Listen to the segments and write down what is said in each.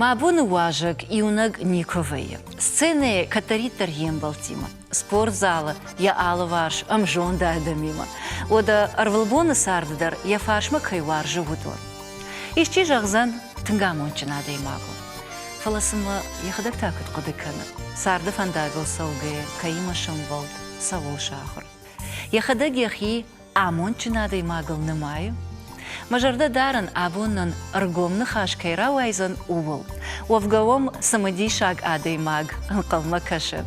Мӕ боны уазӕг иунӕг никуы вӕййы. Сценӕйы кӕддӕриддӕр йе мбӕлттимӕ, спортзалы йӕ алыварс ӕмзонд адӕмимӕ, уӕдӕ ӕрвылбоны царды дӕр йӕ фарсмӕ кӕй уарзы, уыдон. Исчи зӕгъдзӕн, тынг амондджын адӕймаг у. Фӕлӕ цы мӕ йӕхӕдӕг та куыд хъуыды кӕны, царды фӕндагыл цӕугӕйӕ кӕимӕ сӕмбӕлд, цӕуыл сахуыр? Йӕхӕдӕг йӕхи амондджын адӕймагыл нымайы, мӕ зӕрдӕ дарын, абон нын ӕргом ныхас кӕй рауайдзӕн, ууыл. Уӕвгӕ уӕм цымыдисаг адӕймаг ӕнхъӕлмӕ кӕсы.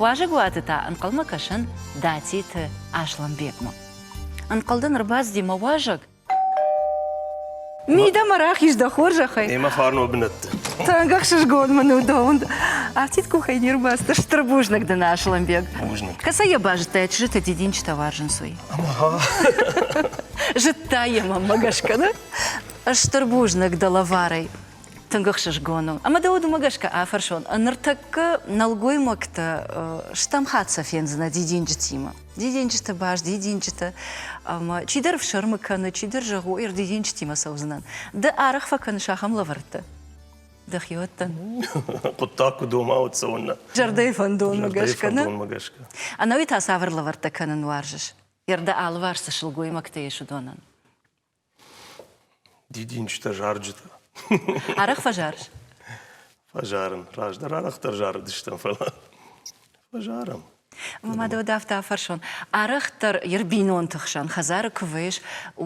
Уазӕгуаты та ӕнхъӕлмӕ кӕсын Датиты Аслӕнбегмӕ. Ӕнхъӕл дын ӕрбацыди мӕ уазӕг? Мидӕмӕ рахиз дӕ хорзӕхӕй. Ӕмӕ фарнон бынӕтты. Тынг ӕхсызгон мын у дӕ уынд. Афтид къухӕй не рбацыд стыр бузныг дын, Аслӕнбег. Бузныг. Кӕцӕй йӕ базыдтай, чызджытӕ дидинджытӕ уарзынц, уый? Зыдта йӕ мӕ мӕ гӕсгӕ нӕ? Стыр бузныг дӕ лӕварӕй. Тынг ӕхсызгон у. Ӕмӕ дӕ уыд уымӕ гӕсгӕ афӕрсон, ныртӕккӕ нӕлгоймӕгтӕ стӕм хатт сӕ фендзынӕ дидинджытимӕ. Дидинджыты баз, дидинджыты. Чидӕр ӕфсӕрмы кӕны, чидӕр зӕгъы, ой, ӕрдидинджытимӕ цӕудзынӕн. Ды арӕх фӕкӕныс ахӕм лӕвӕрттӕ? Дӕхиуӕттӕн? Хъуыддаг куы дома, уӕд цӕуыннӕ? Зӕрдӕйы фӕндонмӕ гӕсгӕ, нӕ? Фӕндонмӕ гӕсгӕ. Ӕнӕуи та цавӕр лӕвӕрттӕ кӕнын уарзыс? Йӕ рдӕ алыварс цы сылгоймӕгтӕ ис, уыдонӕн? Дидинджытӕ, зарджытӕ. Арӕх фӕзарыс? Фӕзарын. Раздӕр арӕхдӕр зарыдыстӕм, фӕлӕ фӕзарӕм. Ма дӕ уӕд афтӕ афӕрсон. Арӕхдӕр йӕ рбинонты хсӕн хӕдзары куы вӕййыс,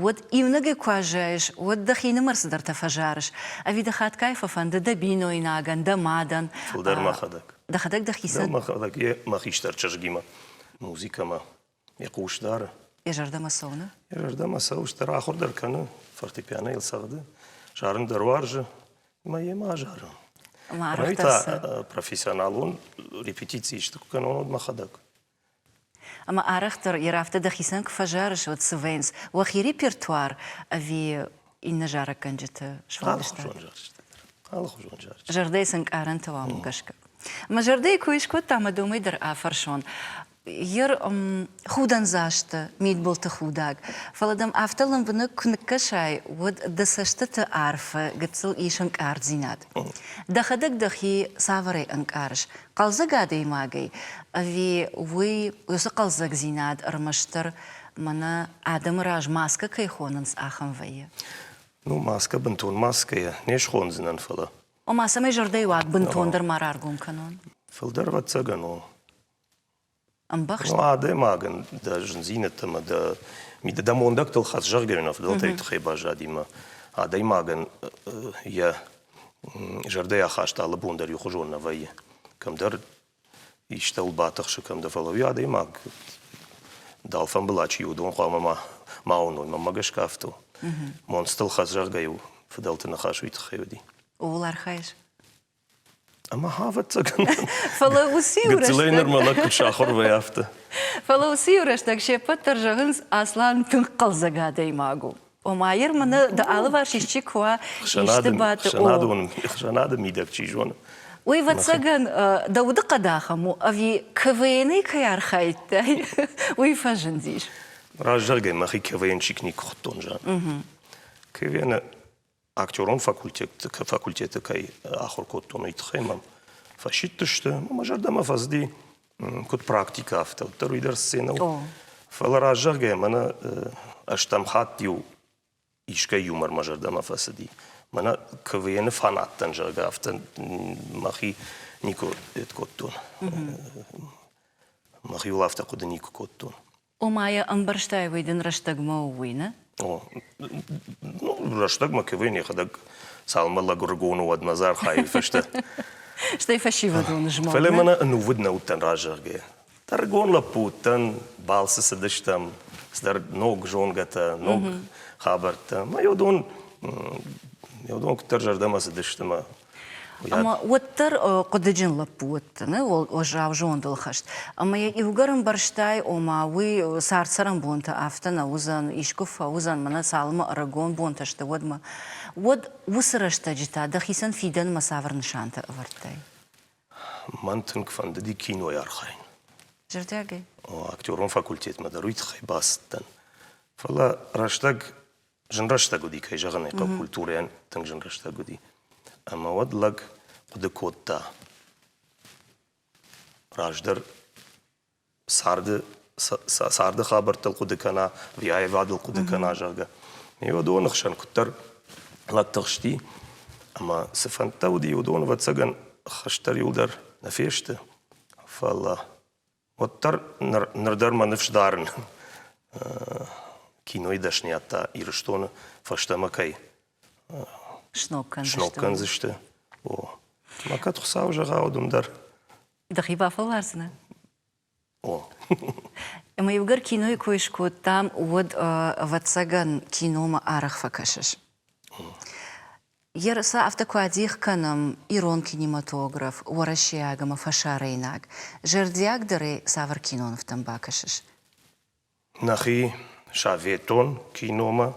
уӕд иунӕгӕй куы аззайыс, уӕд дӕхинымӕр цыдӕртӕ фӕзарыс. Ӕви дӕ хатгай фӕфӕнды дӕ бинойнагӕн, дӕ мадӕн? Фылдӕр мӕхӕдӕг. Дӕхӕдӕг дӕхицӕн? Дӕу мӕхӕдӕг, йе мӕ хистӕр чызгимӕ, музыкӕмӕ. Йӕ хъус дары. Йӕ зӕрдӕмӕ цӕуны? Йӕ зӕрдӕмӕ цӕуы, стыр ахуыр дӕр кӕны, фортепиано йыл цӕгъды, зарын дӕр уарзы, ӕмӕ йемӕ азары. Ӕмӕ та профессионалон репетици исты куы кӕнон, уӕд мӕхӕдӕг. Ӕмӕ арӕхдӕр йӕ рафтӕ дӕхицӕн куы фӕзарыс, уӕд цы вӕййынц уӕхи репертуар ӕви иннӕ зарӕггӕнджыты сфӕлдыстад? Алыхуызон зарджытӕ. Зӕрдӕйы цы нкъарӕнтӕ уӕм гӕсгӕ? Мӕ зӕрдӕйы кой скодта ӕмӕ домӕй дӕр афӕрсон, Ир худӕндзасты мидбылты худӕг, фӕлӕ дӕм афтӕ лӕмбынӕг куы ныккӕсай, уӕд дӕ цӕстыты арфы гыццыл ис ӕнкъарддзинад. Дӕхӕдӕг дӕхи цавӕрӕй ӕнкъарыс хъӕлдзӕг адӕймагӕй, ӕви уый, уыцы хъӕлдзӕгдзинад ӕрмӕстдӕр мӕнӕ адӕмы раз маскӕ кӕй хонынц, ахӕм вӕййы? Ну, маскӕ бынтон маскӕйӕ не схондзынӕн, фӕлӕ. Ома, цӕмӕй зӕрдӕйы уаг бынтондӕр ма раргом кӕнон? Фылдӕр ӕвӕццӕгӕн у. ӕмбӕхст. Адӕймагӕн дӕ зындзинӕдтӕмӕ, дӕ мидӕ, дӕ мондӕгтыл хӕц, зӕгъгӕ, на фыдӕлтӕй тыххӕй баззади мӕ адӕймагӕн йӕ зӕрдӕйы ахаст алы бон дӕр иухуызон нӕ вӕййы. Кӕмдӕр истӕуыл батыхсы, кӕм дӕ, фӕлӕ уый адӕймаг дӕлфӕмбыла чи у, уыдон хъуамӕ ма ма уыной, мӕнмӕ гӕсгӕ афтӕ у. Монцтыл хӕц, зӕгъгӕ, иу фыдӕлты ныхас уый тыххӕй уыди. Ууыл архайыс? Ӕмӕ ӕвӕццӕгӕн. Фӕлӕ уыцы иу рӕстӕг. нырма лӕг куыд сахуыр вӕй афтӕ. Фӕлӕ уыцы иу рӕстӕг се ппӕт дӕр зӕгъынц, Аслан тынг хъӕлдзӕг адӕймаг у. Ома, ир мын дӕ алыварс исчи куы уа, исты баты. Хсӕнады мидӕг чи зоны. Уый, вӕццӕгӕн, дӕ удыхъӕд ахӕм у, ӕви КВН-й кӕй архайдтай, уый фӕзындис. Раздзагӕй мӕхи КВН-чик никуы хуыдтон, зӕгъын. КВН-ы актерон факультеты кӕй ахуыр кодтон, уый тыххӕй мӕм фӕсидтысты. Мӕ зӕрдӕмӕ фӕзыди куыд практикӕ, афтӕ уыддӕр уый дӕр сценӕ Фӕлӕ раззагӕй мӕнӕ ӕстӕм хатт-иу искӕй юмор мӕ зӕрдӕмӕ фӕцыди. Мӕнӕ КВН-ы фанаттӕн, зӕгъгӕ, афтӕ мӕхи никуы кодтон. Мӕхиуыл афтӕ хъуыды никуы кодтон. Ома йӕ ӕмбӕрстай, уый дын рӕстӕгмӕ у, уый нӕ? О. Ну, рӕстӕгмӕ кӕвӕй нӕхӕдӕг цалынмӕ лӕгуыргон у, уӕдмӕ дзы архайын фӕстӕ. Стӕй фӕсивӕдон змӕлд. Фӕлӕ мӕнӕ ӕнувыд нӕ уыдтӕн раззаргӕ. Тӕргон лӕппу уыдтӕн, балцы цыдыстӕм, цыдӕр ног зонгӕтӕ, ног хабӕрттӕ. Мӕ уыдон, ме уыдон куыддӕр зӕрдӕмӕ цыдысты мӕ Ӕмӕ уӕддӕр хъуыдыджын лӕппу уыдтӕ, нӕ уӕззау зондыл хӕст. Ӕмӕ йӕ иугӕр ӕмбӕрстай, ома уый цард-цӕрӕнбонты афтӕ нӕ уыдзӕн, искуы фӕуыдзӕн, мӕнӕ цалынмӕ ӕрыгон бонтӕ сты, уӕдмӕ. Уӕд уыцы рӕстӕджы та дӕхицӕн фидӕнмӕ цавӕр нысантӕ ӕвӕрдтай? Мӕн тынг фӕндыди кинойы архайын. Зӕрдиагӕй? Актерон факультетмӕ дӕр уый тыххӕй бацыдтӕн. Фӕлӕ рӕстӕг Зын рӕстӕг уыди, кӕй зӕгъын ӕй хъӕуы, культурӕйӕн тынг зын рӕстӕг уыди. Ӕмӕ уӕд лӕг хъуыды кодта раздӕр царды царды хабӕрттыл хъуыды кӕна, ӕви аивадыл хъуыды кӕна, зӕгъгӕ. Ме уыдоны хсӕн куыддӕр лӕг тыхсти, ӕмӕ цы фӕндтӕ уыди, уыдон, ӕвӕццӕгӕн, хӕстӕр иуылдӕр нӕ фесты, фӕлӕ Уӕддӕр ныр дӕр мӕ ныфс дарын, кинойы дӕсныйӕдтӕ Ирыстоны фӕстӕмӕ кӕй сног кӕндзысты. Мӕ кӕд Хуыцауы зӕгъӕуыд уым дӕр. Дӕхи бафӕлвардзынӕ? О. Ӕмӕ иугӕр кинойы кой скодтам, уӕд, ӕвӕццӕгӕн, киномӕ арӕх фӕкӕсыс? Ерысӕ афтӕ куы адих кӕнӕм ирон кинематограф уӕрӕсейаг ӕмӕ фӕсарӕйнаг, зӕрдиагдӕрӕй цавӕр кинонывтӕм бакӕсыс? Нӕхи советон киномӕ,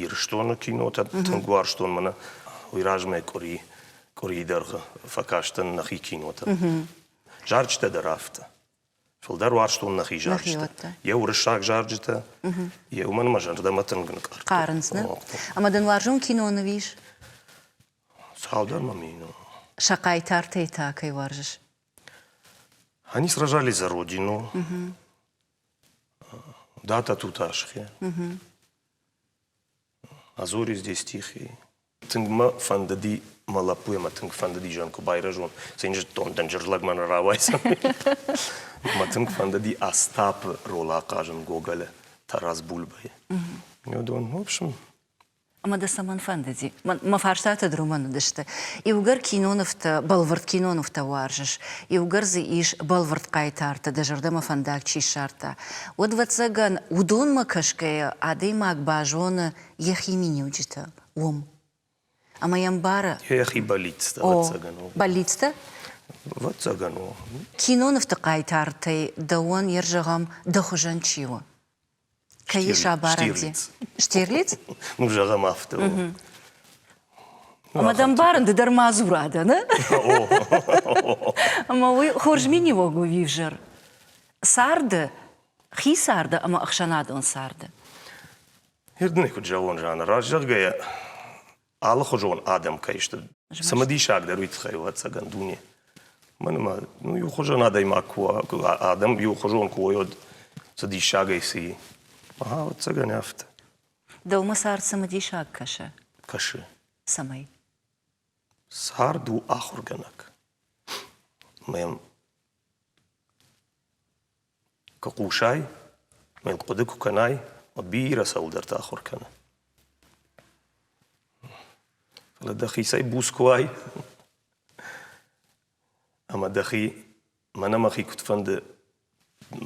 Ирыстоны кинотӕ, тынг уарзтон мӕнӕ уый размӕ къуыри къуырийы дӕргъы фӕкастӕн нӕхи кинотӕ. Зарджытӕ дӕр афтӕ. Фылдӕр уарзтон нӕхи зарджытӕ. Йӕ уырыссаг зарджытӕ, йе уымӕн ӕмӕ зӕрдӕмӕ тынг ныкъӕр. Хъарынц, нӕ? Ӕмӕ дын уарзон кино ныв ис? Цалдӕр мӕ мин. Сӕ хъайтартӕй та кӕй уарзыс? Они сражались за родину. Да, тату Ташке. А Зоре здесь тихие. Тынг мӕ фӕндыди, мӕ лӕппуйы мӕ тынг фӕндыди зӕнг байрӕзон, цин зыдтон, дӕнджыр лӕг мӕнӕ рауайдзӕн. Мӕ тынг фӕндыди Остапы рол ахъазын Гоголы Тарас Бульбайы. Уыдон, в общем, Ӕмӕ дӕ цӕмӕн фӕндыди? Мӕ фарстатӕ дроман уыдысты. Иугӕр кинонывтӕ, бӕлвырд кинонывтӕ уарзыс, иугӕр дзы ис бӕлвырд хъайтарты, дӕ зӕрдӕмӕ фӕндаг чи ссардта, уӕд, ӕвӕццӕгӕн, уыдонмӕ кӕсгӕйӕ адӕймаг базоны йӕхи миниуджытӕ уым. Ӕмӕ йӕ мбары. Йӕхи бӕллицтӕ, ӕвӕццӕгӕн у. Бӕллицтӕ? Ӕвӕццӕгӕн у. Кинонывты хъайтартӕй дӕуӕн йӕ зӕгъӕм, дӕ хуызӕн чи у? Кӕй ис абарӕнти? Штирлиц? Ну, зӕгъӕм, афтӕ у. Ӕмӕ дӕ мбарын, ды дӕр мадзура дӕ, нӕ? Ӕмӕ уый хорз миниуӕг у ӕвзӕр. Царды, хи царды ӕмӕ ӕхсӕнадон царды. Ирдӕнӕй куыд зӕгъон, Жанна, раст зӕгъгӕйӕ, алыхуызон адӕм кӕй сты. Цымыдисагдӕр уый тыххӕй у, ӕцӕгӕн, дуне. Мӕн ӕмӕ ну иухуызон адӕймаг куы у, адӕм иухуызон куы уой, уӕд цы диссагӕй цы и. Ӕ, ӕцӕгӕн афтӕ. Дӕумӕ цард цымыдисаг кӕсы? Кӕсы. Цӕмӕй? Цард у ахуыргӕнӕг. Мӕм Куы хъусай, мӕ хъуыды куы кӕнай, уӕд бирӕ цӕуылдӕрты ахуыр кӕны. Фӕлӕ дӕхицӕй буц куы уай ӕмӕ дӕхи, мӕнӕ мӕхи куыд фӕнды,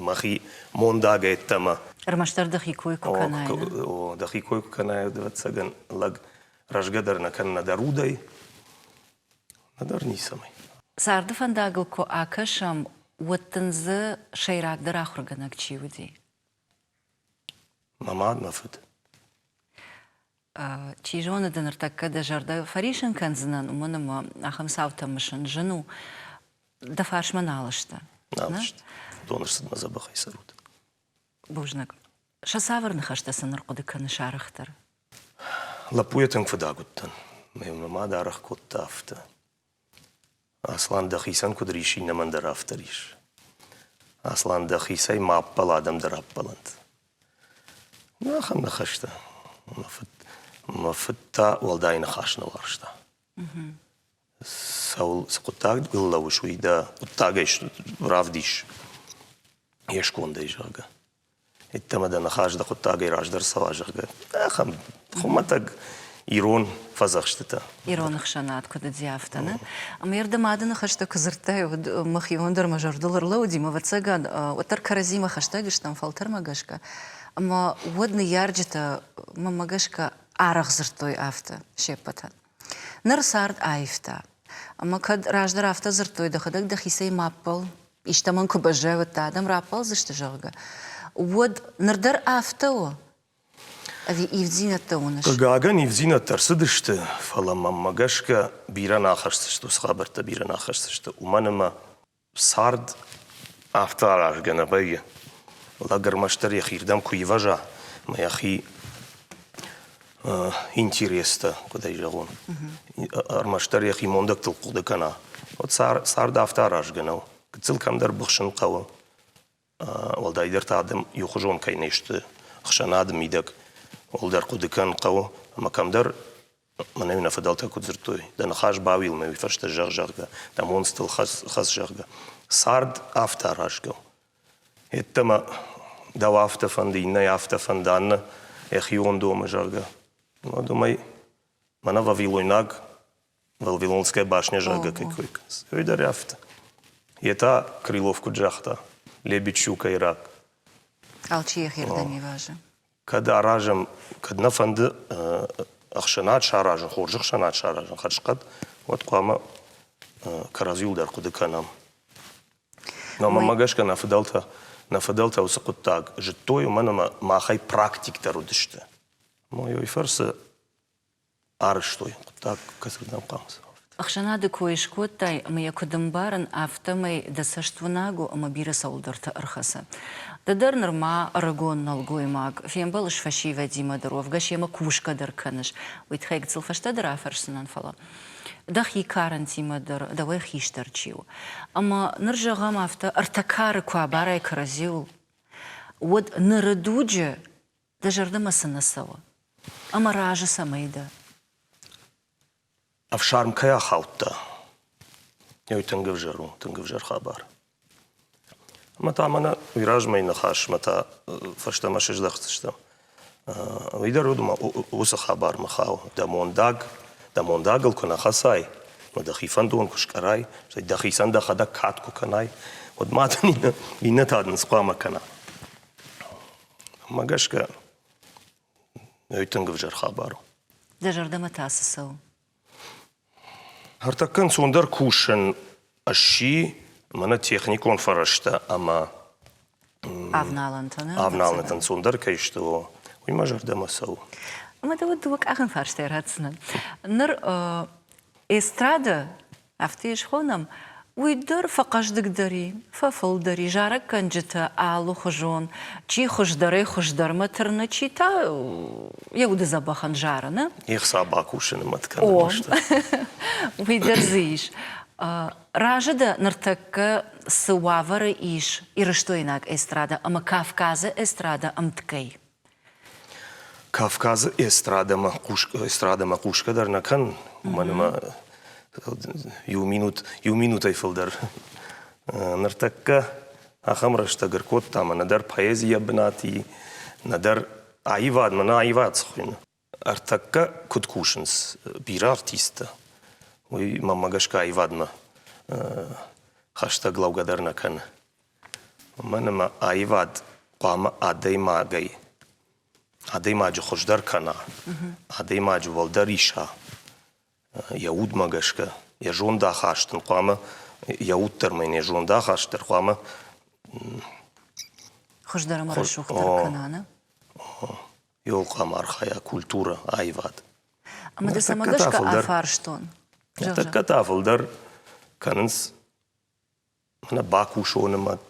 мӕхи мондагӕй ӕддӕмӕ. Ӕрмӕстдӕр дӕхи кой куы кӕнай. О, дӕхи кой куы кӕнай, ӕвӕццӕгӕн, лӕг рӕзгӕ дӕр нӕ кӕнна дӕ рудӕй, Нӕдӕр ницӕмӕй. Царды фӕндагыл куы акӕсӕм, уӕд дын дзы сӕйрагдӕр ахуыргӕнӕг чи уыди? Мӕ мад, мӕ фыд. Чи зоны дын ныртӕккӕ дӕ зӕрдӕ фӕрисын кӕндзынӕн, уымӕн ӕмӕ ахӕм цаутӕ мысын зын у. Дӕ фарсмӕ нал сты. Нал сты. Уыдон ӕрцыд мӕ дзӕбӕхӕй сӕр уд. Бузныг. Сӕ цавӕр ныхӕстӕ сын ӕрхъуыды кӕны сарӕхдӕр? Лӕппуйӕ тынг фыдаг уыдтӕн. Мӕ мад аргъ кодта афтӕ. Аслан, дӕхицӕн куыд рис, иннӕмӕн дӕр афтӕ рис. Аслан, дӕхицӕй ма ӕппӕл, адӕм дӕр ӕппӕлӕнт. Ахӕм нӕ хӕстӕ. Мӕ фыд, мӕ фыд та уӕлдай ныхас нӕ уарзта. Цӕуыл, цы хъуыддагыл лӕууыс, уый дӕ хъуыддагӕй равдис, йе скондӕй, зӕгъгӕ. Йеддӕмӕ дӕ ныхас дӕ хъуыддагӕй раздӕр цӕуа, зӕгъгӕ. Ахӕм хуымӕтӕг ирон фӕдзӕхстытӕ. Ирон ӕхсӕнад куыд уыди, афтӕ нӕ. Ме рдӕм ады ныхӕстӕ куы дзырдтай, уӕд мах иуӕн дӕр мӕ зӕрдыл ӕрлӕууыди, мӕ ӕвӕццӕгад, уӕддӕр кӕрӕдзимӕ хӕстӕг стӕм фӕлтӕрмӕ гӕсгӕ. Ӕмӕ уӕд ныййарджытӕ мӕнмӕ гӕсгӕ арӕх дзырдтой афтӕ се ппӕтӕн. Ныр цард аивта. Ӕмӕ кӕд раздӕр афтӕ дзырдтой, дӕхӕдӕг дӕхицӕй ма ппӕл, истӕмӕн куы баззайвӕдтӕ, адӕм раппӕлдзысты, зӕгъгӕ, уӕд ныр дӕр афтӕ у? Ӕви ивддзинӕдтӕ уыныс? Хъыгагӕн, ивддзинӕдтӕ ӕрцыдысты, фӕлӕ мӕнмӕ гӕсгӕ бирӕ нӕ ахӕсдзысты, уыцы хабӕрттӕ бирӕ нӕ ахӕсдзысты, уымӕн ӕмӕ Цард афтӕ аразгӕ нӕ вӕййы. Лӕг ӕрмӕстдӕр йӕхирдӕм куы ивӕза ӕмӕ йӕхи интерестӕ, куыд ӕй зӕгъон, ӕрмӕстдӕр йӕхи мондӕгтыл хъуыды кӕна, уӕд цард афтӕ аразгӕ нӕу. Гыццыл кӕмдӕр быхсын хъӕуы. уӕлдайдӕр та адӕм иухуызон кӕй не сты ӕхсӕнады мидӕг, уӕлдӕр хъуыды кӕн хъӕуы, ӕмӕ кӕмдӕр мӕнӕ-иу нӕ фыдӕлтӕ куыд дзырдтой, дӕ ныхас бауилмӕ уый фӕстӕ зӕгъ, зӕгъгӕ, дӕ монцтыл хӕц, хӕц зӕгъгӕ. Цард афтӕ аразгӕ у. Йеддӕмӕ дӕу афтӕ фӕнды, иннӕйы афтӕ фӕнды, аннӕ йӕхион домы, зӕгъгӕ. Мӕ домӕй мӕнӕ вавилойнаг был Вилонская башня зӕгъгӕ кой кӕнынц. Ой дӕр афтӕ. Йе та Крылов куыд загъта, лебедь щука ирак. Алчи йӕхи рдӕм ивазы. Кӕд аразӕм, кӕд нӕ фӕнды ӕхсӕнад саразын, хорз ӕхсӕнад саразын хӕрзхъӕд, уӕд хъуамӕ кӕрӕдзиуыл дӕр хъуыды кӕнӕм. Но мӕ гӕсгӕ нӕ фыдӕлтӕ нӕ фыдӕлтӕ уыцы хъуыддаг зыдтой, уымӕн ӕмӕ махӕй практиктӕр уыдысты. Мойой фӕрцы арӕзтой хъуыддаг, кӕсгдӕм хъӕуынц. Ӕхсӕнады кой скодтай ӕмӕ йӕ куыд ӕмбарын, афтӕмӕй дӕ цӕст уынаг у ӕмӕ бирӕ цӕуылдӕрты ӕрхӕцы. Ды дӕр нырма ӕрыгон нӕлгоймаг, фембӕлыс фӕсивӕдимӕ дӕр, уӕвгӕ семӕ кусгӕ дӕр кӕныс, уый тыххӕй гыццыл фӕстӕдӕр афӕрсдзынӕн, фӕлӕ дӕхи карӕнтимӕ дӕр дӕуӕй хистӕр чи у. Ӕмӕ ныр, зӕгъӕм, афтӕ ӕртӕ кары куы абарай кӕрӕдзиуыл, уӕд ныры дуджы Дӕ зӕрдӕмӕ цы нӕ цӕуы? Ӕмӕ разы цӕмӕй дӕ? Ӕфсарм кӕй ахаудта, ой тынг ӕвзӕр у, тынг ӕвзӕр хабар. Ӕмӕ та мӕнӕ уый размӕйы ныхасмӕ та фӕстӕмӕ сыздӕхдзыстӕм. Уый дӕр уыд ӕмӕ уыцы хабармӕ хауы. Дӕ мондаг, дӕ мондагыл куы нӕ хӕцай, уӕд дӕхи фӕндон куы скъӕрай, стӕй дӕхицӕн дӕхӕдӕг кад куы кӕнай, уӕд ма дын иннӕтӕ дын цы хъуамӕ кӕна? Мӕ гӕсгӕ ӕй тынг ӕвзӕр хабар у. Дӕ зӕрдӕмӕ та цы цӕуы? Ӕртӕккӕ ӕнцондӕр кусын сси мӕнӕ техникон фӕрӕзтӕ ӕмӕ Авналӕнтӕ нӕ? Авналӕнтӕ ӕнцондӕр кӕй сты, уый мӕ зӕрдӕмӕ цӕуы. Ӕмӕ дӕ уӕд дыууӕ къахӕн фарстай ратдзынӕн. Ныр эстрада Афтӕ схонӕм, уый дӕр фӕхъӕздыгдӕр и, фӕфылдӕр и, зарӕггӕнджытӕ алыхуызон, чи хуыздӕрӕй-хуыздӕрмӕ тырны, чи та йӕ уды дзӕбӕхӕн зары, нӕ? Ехса бакусыны мӕт кӕны бӕсты. Уый дӕр дзы ис. Разы дӕ ныртӕккӕ цы уавӕры ис ирыстойнаг эстрада ӕмӕ Кавказы эстрада ӕмткӕй? Кавказы эстрадӕмӕ хъусгӕ эстрадӕмӕ хъусгӕ дӕр нӕ кӕн, уымӕн ӕмӕ иу минут иу минутӕй фылдӕр ныртӕккӕ ахӕм рӕстӕг ӕркодта ӕмӕ нӕдӕр поэзийӕ бынат и, нӕдӕр аивадмӕ нӕ аивад цы хуыйны. Ӕртӕккӕ куыд кусынц бирӕ артисттӕ, уый мӕнмӕ гӕсгӕ аивадмӕ хӕстӕг лӕугӕ дӕр нӕ кӕны. Уымӕн ӕмӕ аивад хъуамӕ адӕймагӕй, адӕймаджы хуыздӕр кӕна, адӕймаджы уӕлдӕр иса йӕ удмӕ гӕсгӕ. Йӕ зондахаст ын хъуамӕ, йӕ уд дӕр ӕмӕ йын йӕ зондахаст дӕр хъуамӕ Хуыздӕр ӕмӕ рӕсугъддӕр кӕна, нӕ? Иууыл хъуамӕ архайа культурӕ, аивад. Ӕмӕ дӕ цӕмӕ гӕсгӕ афарстон? Ныртӕккӕ та фылдӕр кӕнынц Нӕ бакусон ӕм ӕд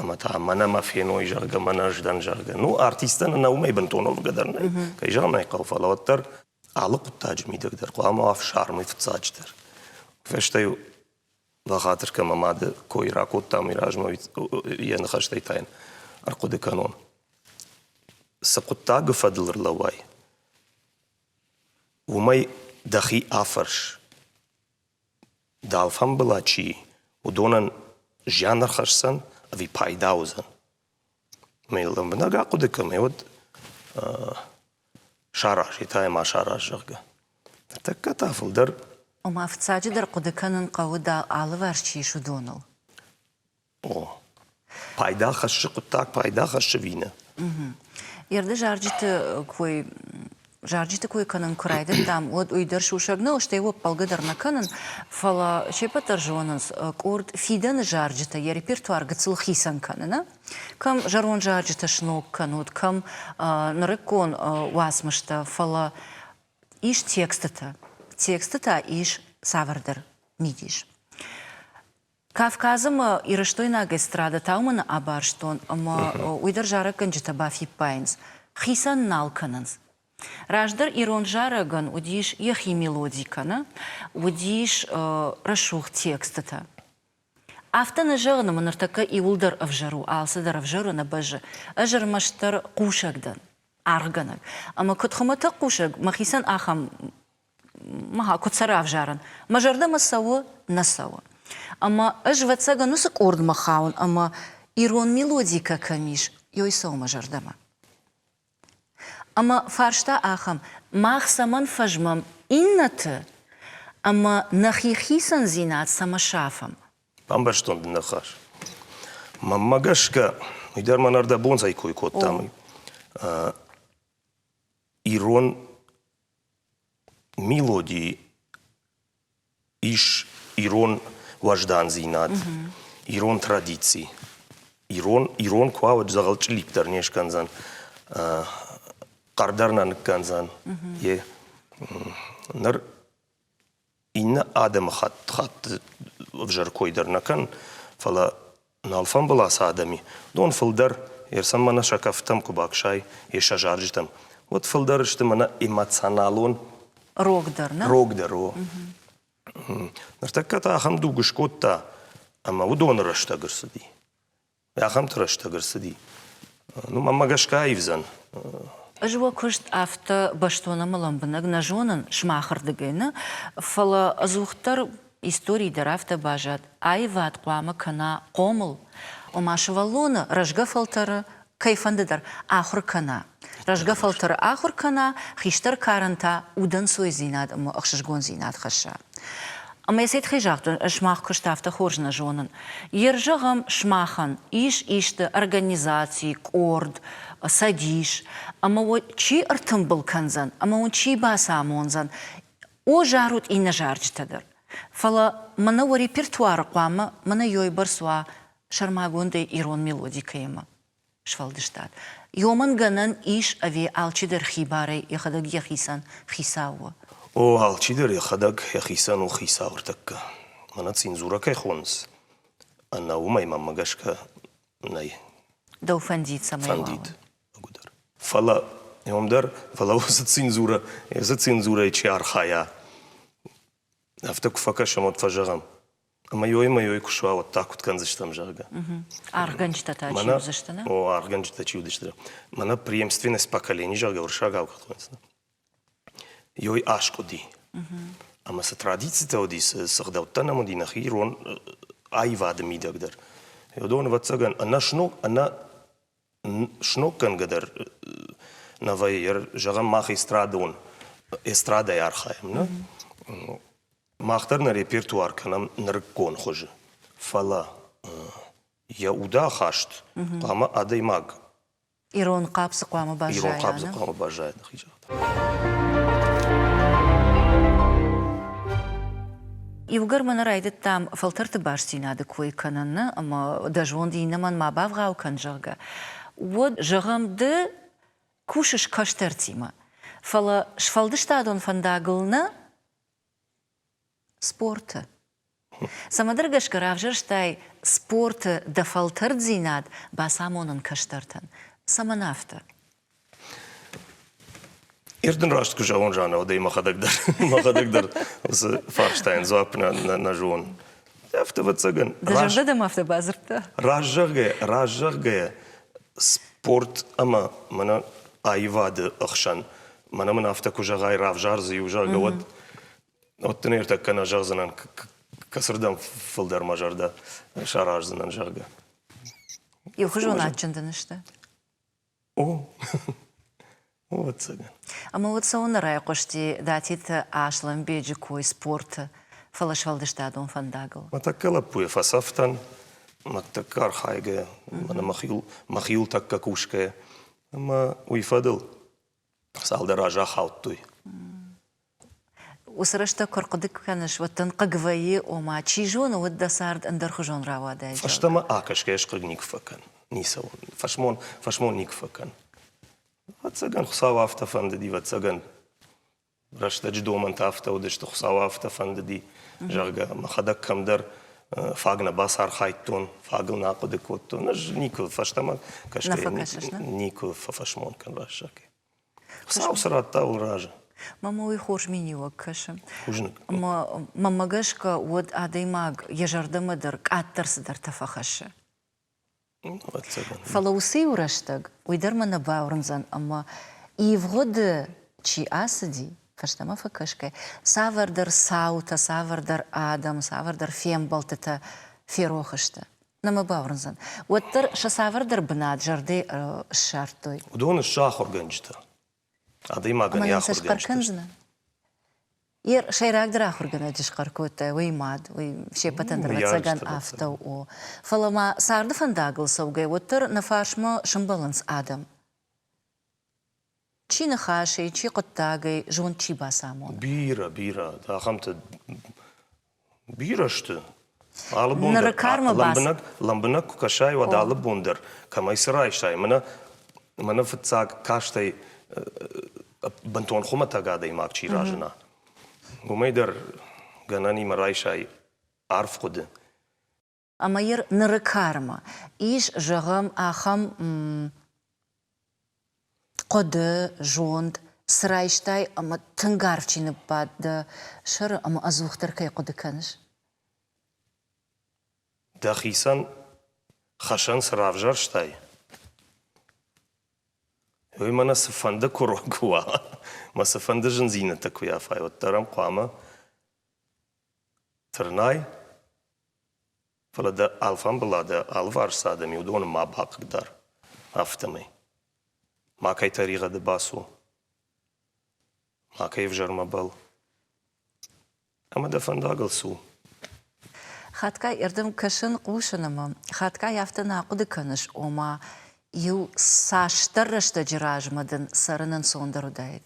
ӕмӕ та мӕнӕ мӕ феной, зӕгъгӕ, мӕнӕ ӕз дӕн, зӕгъгӕ. Ну, артисттӕн ӕнӕ уымӕй бынтон уӕвгӕ дӕр нӕй. Кӕй зӕгъын ӕй хъӕуы, фӕлӕ уӕддӕр алы хъуыддаджы мидӕг дӕр хъуамӕ уа фсармый фыццаджыдӕр. Фӕстӕ-иу бахатыр кӕн, мӕ мады кой ракодтам, уый размӕ йӕ ныхӕстӕй та йын ӕрхъуыды кӕнон. Цы хъуыддагы фӕдыл ӕрлӕууай, уымӕй дӕхи афӕрс. дал фӕмбӕла чи и, уыдонӕн зиан ӕрхӕсдзӕн ӕви пайда уыдзӕн. Ӕмӕ йыл лӕмбынӕг ахъуыды кӕмӕ, уӕд саразы та йӕ ма сараз, зӕгъгӕ. Ныртӕккӕ та фылдӕр Ома, фыццаджыдӕр хъуыды кӕнын хъӕуы, дӕ алыварс чи ис, уыдоныл. Пайда хӕссы хъуыддаг, пайда хӕссы вины. Ерды зарджыты кой зарджыты кой кӕнын куы райдыдтам, уӕд уый дӕр сусӕг нӕу, стӕй уӕ ппӕлгӕ дӕр нӕ кӕнын, фӕлӕ се пӕт дӕр зонынц, къорд фидӕны зарджытӕ йӕ репертуар гыццыл хицӕн кӕны, нӕ? Кӕм зӕронд зарджытӕ сног кӕнут, кӕм нырыккон уацмыстӕ, фӕлӕ ис текстытӕ, тексты та ис цавӕрдӕр мидис. Кавказы мӕ ирыстойнаг эстрада тауманы абарстон ӕмӕ уый дӕр зарӕггӕнджытӕ бафиппайынц, хицӕн нал кӕнынц. Раздӕр ирон зарӕгӕн уыдис йӕхи мелоди кӕнӕ уыдис рӕсугъд текстытӕ. Афтӕ нӕ зӕгъын ӕмӕ ныртӕккӕ иуылдӕр ӕвзӕр у, алцыдӕр ӕвзӕр у нӕ бӕзы. Ӕз ӕрмӕстдӕр хъусӕг дӕн, аргъгӕнӕг. Ӕмӕ куыд хуымӕтӕг хъусӕг, мӕхицӕн ахӕм куыд сӕ равзарын, мӕ зӕрдӕмӕ цӕуы, нӕ цӕуы. Ӕмӕ ӕз, ӕвӕццӕгӕн, уыцы къордмӕ хауын, ӕмӕ ирон мелодикӕ кӕм ис, ёй цӕуы мӕ зӕрдӕмӕ. Ӕмӕ фарста ахӕм, мах цӕмӕн фӕзмӕм иннӕты ӕмӕ нӕхи хицӕндзинад цӕмӕ сафӕм? Ӕмбӕрстон ныхас. Мӕнмӕ гӕсгӕ, уый дӕр мӕнӕ ӕрдӕбонзӕй кой кодтам. Ирон Мелоди ис ирон уӕздандзинад, ирон традици. Ирон, ирон куы уа, уӕд дзӕгъӕлчъиликк дӕр не скӕндзӕн, хъӕр дӕр нӕ ныккӕндзӕн. Йе, ныр Иннӕ адӕмыхатт хатты ӕвзӕр кой дӕр нӕ кӕн, фӕлӕ нал фембӕлас адӕми, дон фылдӕр, йе рцӕн мӕнӕ сӕ кӕфтӕм куы баксай, йе сӕ зарджытӕм, уӕд фылдӕр сты мӕнӕ эмоционалон рогдӕр, нӕ? Рогдӕр, о. Ныртӕккӕ та ахӕм дуг скодта, ӕмӕ уыдоны рӕстӕг ӕрцыди. Ахӕмты рӕстӕг ӕрцыди. Ну, мӕнмӕ гӕсгӕ аивдзӕн. Ӕз уӕ куыст афтӕ бӕстон ӕмӕ лӕмбынӕг нӕ зонын сымахырдыгӕй нӕ, фӕлӕ ӕдзухдӕр истори дӕр афтӕ баззад, аивад хъуамӕ кӕна хъомыл, ома сывӕллоны рӕзгӕ фӕлтӕры кӕй фӕнды дӕр ахуыр кӕна. Рӕзгӕ фӕлтӕры ахуыр кӕна, хистӕр карӕн та удӕнцойдзинад ӕмӕ ӕхсызгондзинад хӕсса. Ӕмӕ йӕ цӕй тыххӕй загътон, ӕз сымах куыст афтӕ хорз нӕ зонын. Ерыс зӕгъӕм, сымахӕн ис исты организаци, къорд, цӕдис, ӕмӕ уӕ чи ӕртымбыл кӕндзӕн ӕмӕ уын чи бацамондзӕн, о зарут иннӕ зарджытӕ дӕр. Фӕлӕ мӕнӕ уӕ репертуары хъуамӕ мӕнӕ ёйбӕрц уа сӕрмагондӕй ирон мелоди кӕимӕ. сфӕлдыстад. Ёмӕн гӕнӕн ис ӕви алчидӕр хибарӕй йӕхӕдӕг йӕхицӕн хицау у? О, алчидӕр йӕхӕдӕг йӕхицӕн у хицау ӕртӕккӕ. Мӕнӕ цензурӕ кӕй хонынц, ӕнӕ уымӕй мӕнмӕ гӕсгӕ нӕй. Дӕу фӕндид цӕмӕй фӕндид ӕгуыдӕр. Фӕлӕ ом дӕр, фӕлӕ уыцы цензурӕ, цы цензурӕйы чи архайа, афтӕ куы фӕкӕсӕм, уӕд фӕзӕгъӕм, Мыйой-мыйой куы суа, уӕд та куыд кӕндзыстӕм, зӕгъгӕ. Аргъгӕнджытӕ та чи уыдзысты, нӕ? О, аргъгӕнджытӕ чи уыдысты. Мӕнӕ преемственность поколений, зӕгъгӕ, уырыссагау куыд хуыйынц. Йой аскъуыди. Ӕмӕ цы традицитӕ уыди, цы сыгъдӕуттӕ нӕм уыди нӕхи ирон аивады мидӕг дӕр. Уыдон, ӕвӕццӕгӕн, ӕнӕсног, ӕнӕ сноггӕнгӕ дӕр новӕй зӕгъӕм мах эстрадон эстрадӕйы архайӕм нӕ мах дӕр нӕ репертуар кӕнӕм нырыккон хуызы фӕлӕ йӕ удахаст хъуамӕ адӕймаг ирон хъӕпсы хъуамӕ баззайа ирон хъӕпсы хъуамӕ баззайа нӕхи Иугӕр мӕ нӕ райдыдтам фӕлтӕрты бастдзинады кой кӕнын ӕмӕ дӕ зонд иннӕмӕн ма бавгъау кӕн, зӕгъгӕ, уӕд, зӕгъӕм, ды кусыс кӕстӕртимӕ, фӕлӕ сфӕлдыстадон фӕндагыл нӕ Спорты. Цӕмӕдӕр гӕсгӕ равзӕрстай спорты дӕ фӕлтӕрддзинад бацамонын кӕстӕртӕн. Цӕмӕн афтӕ? Ир дын раст куы зӕгъон, Жанна, уӕдӕй мӕхӕдӕг дӕр, мӕхӕдӕг дӕр уыцы фарстайӕн дзуапп нӕ, нӕ, нӕ зон. Афтӕ, ӕвӕццӕгӕн. Дӕ зӕрдӕ мӕ афтӕ бадзырдта? Раззӕгъгӕ, раззӕгъгӕ спорт ӕмӕ мӕнӕ аивады ӕхсӕн мӕнӕ мын афтӕ куы зӕгъай, равзар дзы иу, зӕгъгӕ, уӕд уӕд дын ӕртӕккӕ нӕ зӕгъдзынӕн, кӕцырдӕм фылдӕр мӕ зӕрдӕ сараздзынӕн, зӕгъгӕ. Иухуызон адджын дын сты? О, о, ӕцӕгӕн. Ӕмӕ уӕд цӕуылнӕ райхъуысти Датиты Аслӕнбеджы кой спорты, фӕлӕ сфӕлдыстадон фӕндагыл? Мӕ тӕккӕ лӕппуйы фӕцӕфтӕн, мӕ тӕккӕ архайгӕйӕ, мӕнӕ мӕ хил, мӕ хил тӕккӕ кусгӕйӕ. Ӕмӕ уый фӕдыл цалдӕр азы ахаудтой. Уыцы рӕстӕг куы ӕрхъуыды кӕныс, уӕд дын хъыг вӕййы, ома, чи зоны, уыд дӕ цард ӕндӕрхуызон рауадӕй. Фӕстӕмӕ акӕсгӕ ӕз хъыг никуы фӕкӕн. Ницӕуыл. Фӕсмон, фӕсмон никуы фӕкӕн. Ӕвӕццӕгӕн, Хуыцау афтӕ фӕндыд, ӕвӕццӕгӕн, рӕстӕджы домӕнтӕ афтӕ уыдысты, Хуыцау афтӕ фӕндыди, зӕгъгӕ, мӕхӕдӕг кӕмдӕр фаг нӕ бацархайдтон, фагыл нӕ ахъуыды кодтон. Ӕз никуы фӕстӕмӕ кӕсгӕйӕ никуы фӕфӕсмон кӕн Вассаке. Хуыцау цы радта, уый разы. Мамӕ уый хорз миниуӕг кӕсы. Хъузныг. Ӕмӕ мӕнмӕ гӕсгӕ уӕд адӕймаг йӕ зӕрдӕмӕ дӕр къаддӕр цыдӕртӕ фӕхӕссы. Фӕлӕ уыцы-иу рӕстӕг уый дӕр мӕ нӕ бауырндзӕн, ӕмӕ ивгъуыды чи ацыди, фӕстӕмӕ фӕкӕсгӕ, цавӕрдӕр цаутӕ, цавӕрдӕр адӕм, цавӕрдӕр фембӕлдтытӕ ферох сты. Нӕ мӕ бауырндзӕн, уӕддӕр сӕ цавӕрдӕр бынат зӕрдӕ ссардтой. Уыдон сты ахуыргӕнджытӕ. Адӕймагӕн йӕ ахуыр схъӕр кӕндзынӕ? Йе сӕйрагдӕр ахуыргӕнӕджы схъӕр кодтай, уый мад, уый се ппӕтӕн дӕр ӕцӕгӕн афтӕ у. Фӕлӕ ма царды фӕндагыл цӕугӕ, уӕддӕр нӕ фарсмӕ сӕмбӕлынц адӕм. Чи ныхасӕй, чи хъуыддагӕй зонд чи бацамон? Бирӕ, бирӕ. Ахӕмтӕ Бирӕ сты. Алы бон дӕр, лӕмбынӕг, лӕмбынӕг куы кӕсай, уӕд алы бон дӕр кӕмӕй цы райсай. Мӕнӕ, мӕнӕ фыццаг кастӕй бынтон хуымӕтӕг адӕймаг чи разына, уымӕй дӕр гӕнӕнимӕ райсай арф хъуыды. ӕмӕ йыр ныры кармӕ ис, зӕгъӕм, ахӕм хъуыды, зонд, цы райстай ӕмӕ тынг арф чи ныббадт дӕ сӕры ӕмӕ ӕдзухдӕр кӕй хъуыды кӕныс? Дӕхицӕн хӕсӕн цы равзӕрстай, уый мӕнӕ цыфӕнды курок куы уа, мӕ цыфӕнды зындзинӕдтӕ куы уа, уӕддӕр ӕм хъуамӕ Тырнай? Фӕлӕ дӕ алфамбыла дӕ алыварс адӕм уыдоны ма бахъыгдар, афтӕмӕй. Макӕй тӕригъӕды бацу. Макӕй ӕвзӕрмӕ бӕл. Ӕмӕ дӕ фӕндагыл цу. Хатгай ӕрдӕм кӕсын, хъусын ӕмӕ хатгай афтӕ нӕ ахъуыды кӕныс, ома иу цасдӕр рӕстӕджы размӕ дын цӕрын ӕнцондӕр уыдаид?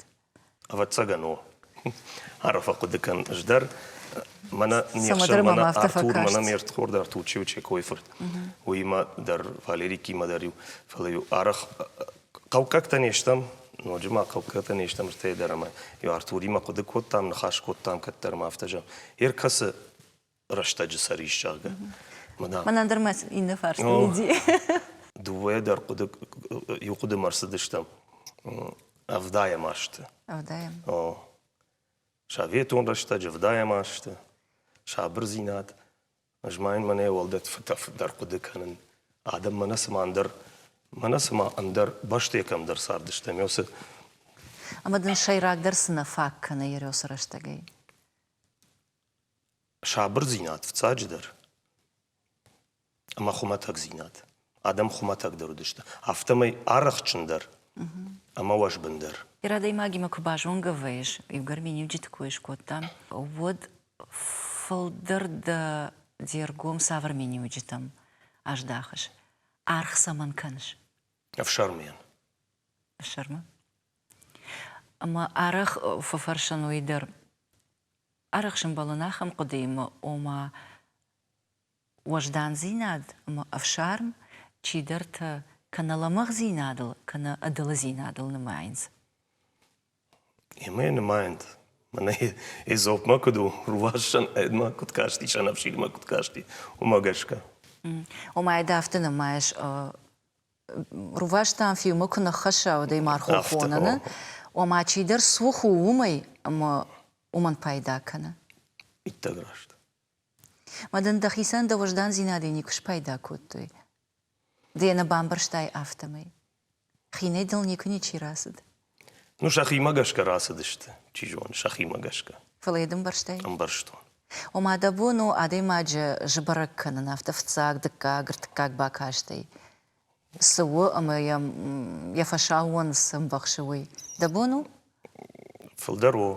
Ӕвӕццӕгӕн у. Арфӕ хъуыды кӕн. Ӕз дӕр мӕнӕ не хсӕн, мӕнӕ Артур, мӕнӕ ме рдхорд Артурчио Чекойы фырт. Уыимӕ дӕр Валерикимӕ дӕр-иу, фӕлӕ-иу арӕх хъӕуккӕгтӕ не стӕм, ноджы ма хъӕуккӕгтӕ не стӕм, стӕй дӕр ӕмӕ Артуримӕ хъуыды кодтам, ныхас кодтам кӕддӕр ма афтӕ зӕгъ. Йе ркӕсы рӕстӕджы цӕрис, зӕгъгӕ. Мӕнӕ дӕр мӕ иннӕ фарст уыди. Дыууӕ дӕр хъуыды иу хъуыдымӕ ӕрцыдыстӕм. Ӕвдаем ӕрсты. Ӕвдаем. О. Советон рӕстӕджы ӕвдаем ӕрсты. Сабырдзинад. Ӕз ма йын мӕнӕ уӕлдӕр фыддӕр хъуыды кӕнын. Адӕм мӕнӕ цыма ӕндӕр мӕнӕ цыма ӕндӕр бӕстӕ кӕмдӕр цардыстӕм, йӕ уыцы Ӕмӕ дын сӕйрагдӕр цы нӕ фаг кӕны Ереусы рӕстӕгӕй? Сабырдзинад фыццаджыдӕр ӕмӕ хуымӕтӕгдзинад. Адӕм хуымӕтӕгдӕр уыдысты, афтӕмӕй арӕхджындӕр ӕмӕ уӕзбындӕр. Ир адӕймагимӕ куы базонгӕ вӕййыс, иугӕр миниуджыты кой скодтам, уӕд фылдӕр дӕ де ргом цавӕр миниуджытӕм аздахыс? Аргъ цӕмӕн кӕныс? Ӕфсӕрмыйӕн. Ӕфсӕрмы? Ӕмӕ арӕх фӕфӕрсын уый дӕр, Арӕхсын бӕлын ахӕм хъуыдыимӕ, ома уӕздандзинад ӕмӕ ӕфсарм чидӕртӕ кӕнӕ лӕмӕгъдзинадыл, кӕнӕ ӕдылыдзинадыл нымайынц. Имӕ нымайынц. Мӕнӕ Эзопмӕ куыд у рувасӕн, ӕдмӕ куыд касти, сӕнӕфсирмӕ куыд касти, уымӕ гӕсгӕ. Ома ӕд афтӕ нымайыс рувӕстӕн фильмы куы ныххӕсса адӕймаг хохоныны, ома чидӕр цух у уымӕй, ӕмӕ уымӕн пайда кӕны. Иттӕг раст. Мӕ дын дӕхицӕн дӕ уӕздандзинадӕй никуы спайда кодтой. Ды йӕ нӕ бамбӕрстай афтӕмӕй. Хинӕй дыл никуы ничи рацыд. Ну, сӕхимӕ гӕсгӕ рацыдысты, чи зоны, сӕхимӕ гӕсгӕ. Фӕлӕ йӕ ды ӕмбӕрстай? Ӕмбӕрстон. Ома дӕ бон у адӕймаджы сбӕрӕг кӕнын, афтӕ фыццаг, дыккаг, ӕртыккаг бакастӕй цы у ӕмӕ йӕм йӕ фӕсаууон цы ӕмбӕхсы, уый дӕ бон у? Фылдӕр у.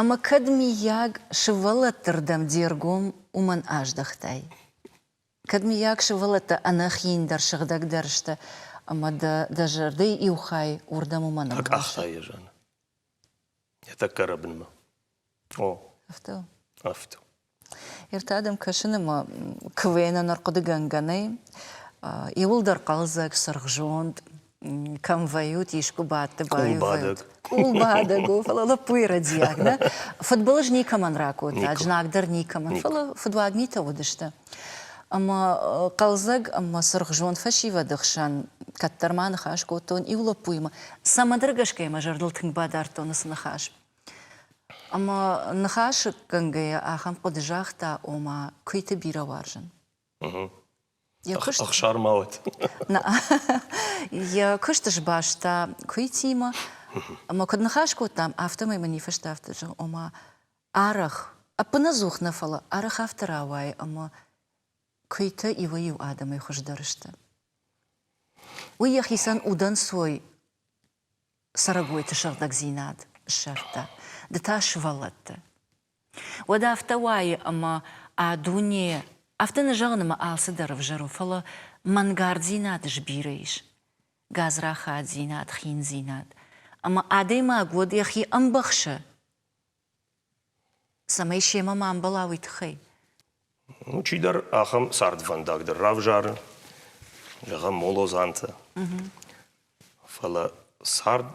Ӕмӕ кӕд, миййаг, сывӕллӕтты рдӕм де ргом уымӕн аздӕхтай? Кӕд, мыййаг, сывӕллӕттӕ ӕнӕхииндӕр сыгъдӕгдӕр сты ӕмӕ дӕ дӕ зӕрдӕйы иу хай уырдӕм уымӕн ӕнкъӕхста? Акъаха йӕ зӕны. Йӕ тӕккӕ рӕбынмӕ. О. Афтӕ? Афтӕ. Ертадӕм кӕсын ӕмӕ куы уӕн ӕнӕрхъуыдыгӕнгӕ нӕй, иуылдӕр хъӕлдзӕг, сырхзонд, кӕм вӕййут, искуы бадты баивӕнт. Къулбадӕг у, фӕлӕ лӕппуйы рӕдийаг, нӕ? Фыдбылыз никӕмӕн ракодта, знагдӕр никӕмӕн, фӕлӕ фыдуаг митӕ уыдысты. Ӕмӕ хъӕлдзӕг ӕмӕ цыргъзонд фӕсивӕды хсӕн кӕддӕр ма ныхас кодтон иу лӕппуимӕ. Цӕмӕндӕргӕсгӕ мӕ зӕрдыл тынг бадардтон уыцы ныхас. Ӕмӕ ныхасгӕнгӕйӕ ахӕм хъуыды загъта, ома, куыйты бирӕ уарзын. Ӕхсар ма уӕд. Йӕ куысты сбаста куыйтимӕ ӕмӕ куыд ныхас кодтам, афтӕмӕй мын ифыста афтӕ, зӕгъ, ома, арӕх, ӕппынӕдзух нӕ, фӕлӕ арӕх афтӕ рауайы, ӕмӕ куыйтӕ иуӕй-иу адӕмӕй хуыздӕр сты. Уый йӕхицӕн удӕнцой цӕрӕгойты сыгъдӕгдзинад ссардта, ды та сывӕллӕтты. Уӕд афтӕ уайы, ӕмӕ дуне афтӕ нӕ зӕгъынмӕ алцыдӕр ӕвзӕр у, фӕлӕ мӕнгарддзинад сбирӕ ис, гадзрахаддзинад, хиндзинад, ӕмӕ адӕймаг уӕд йӕхи ӕмбӕхсы, цӕмӕй семӕ ма ӕмбӕла уый тыххӕй. Чидӕр ахӕм цардвӕндаг дӕр равзары, зӕгъӕм, молодзантӕ. Фӕлӕ цард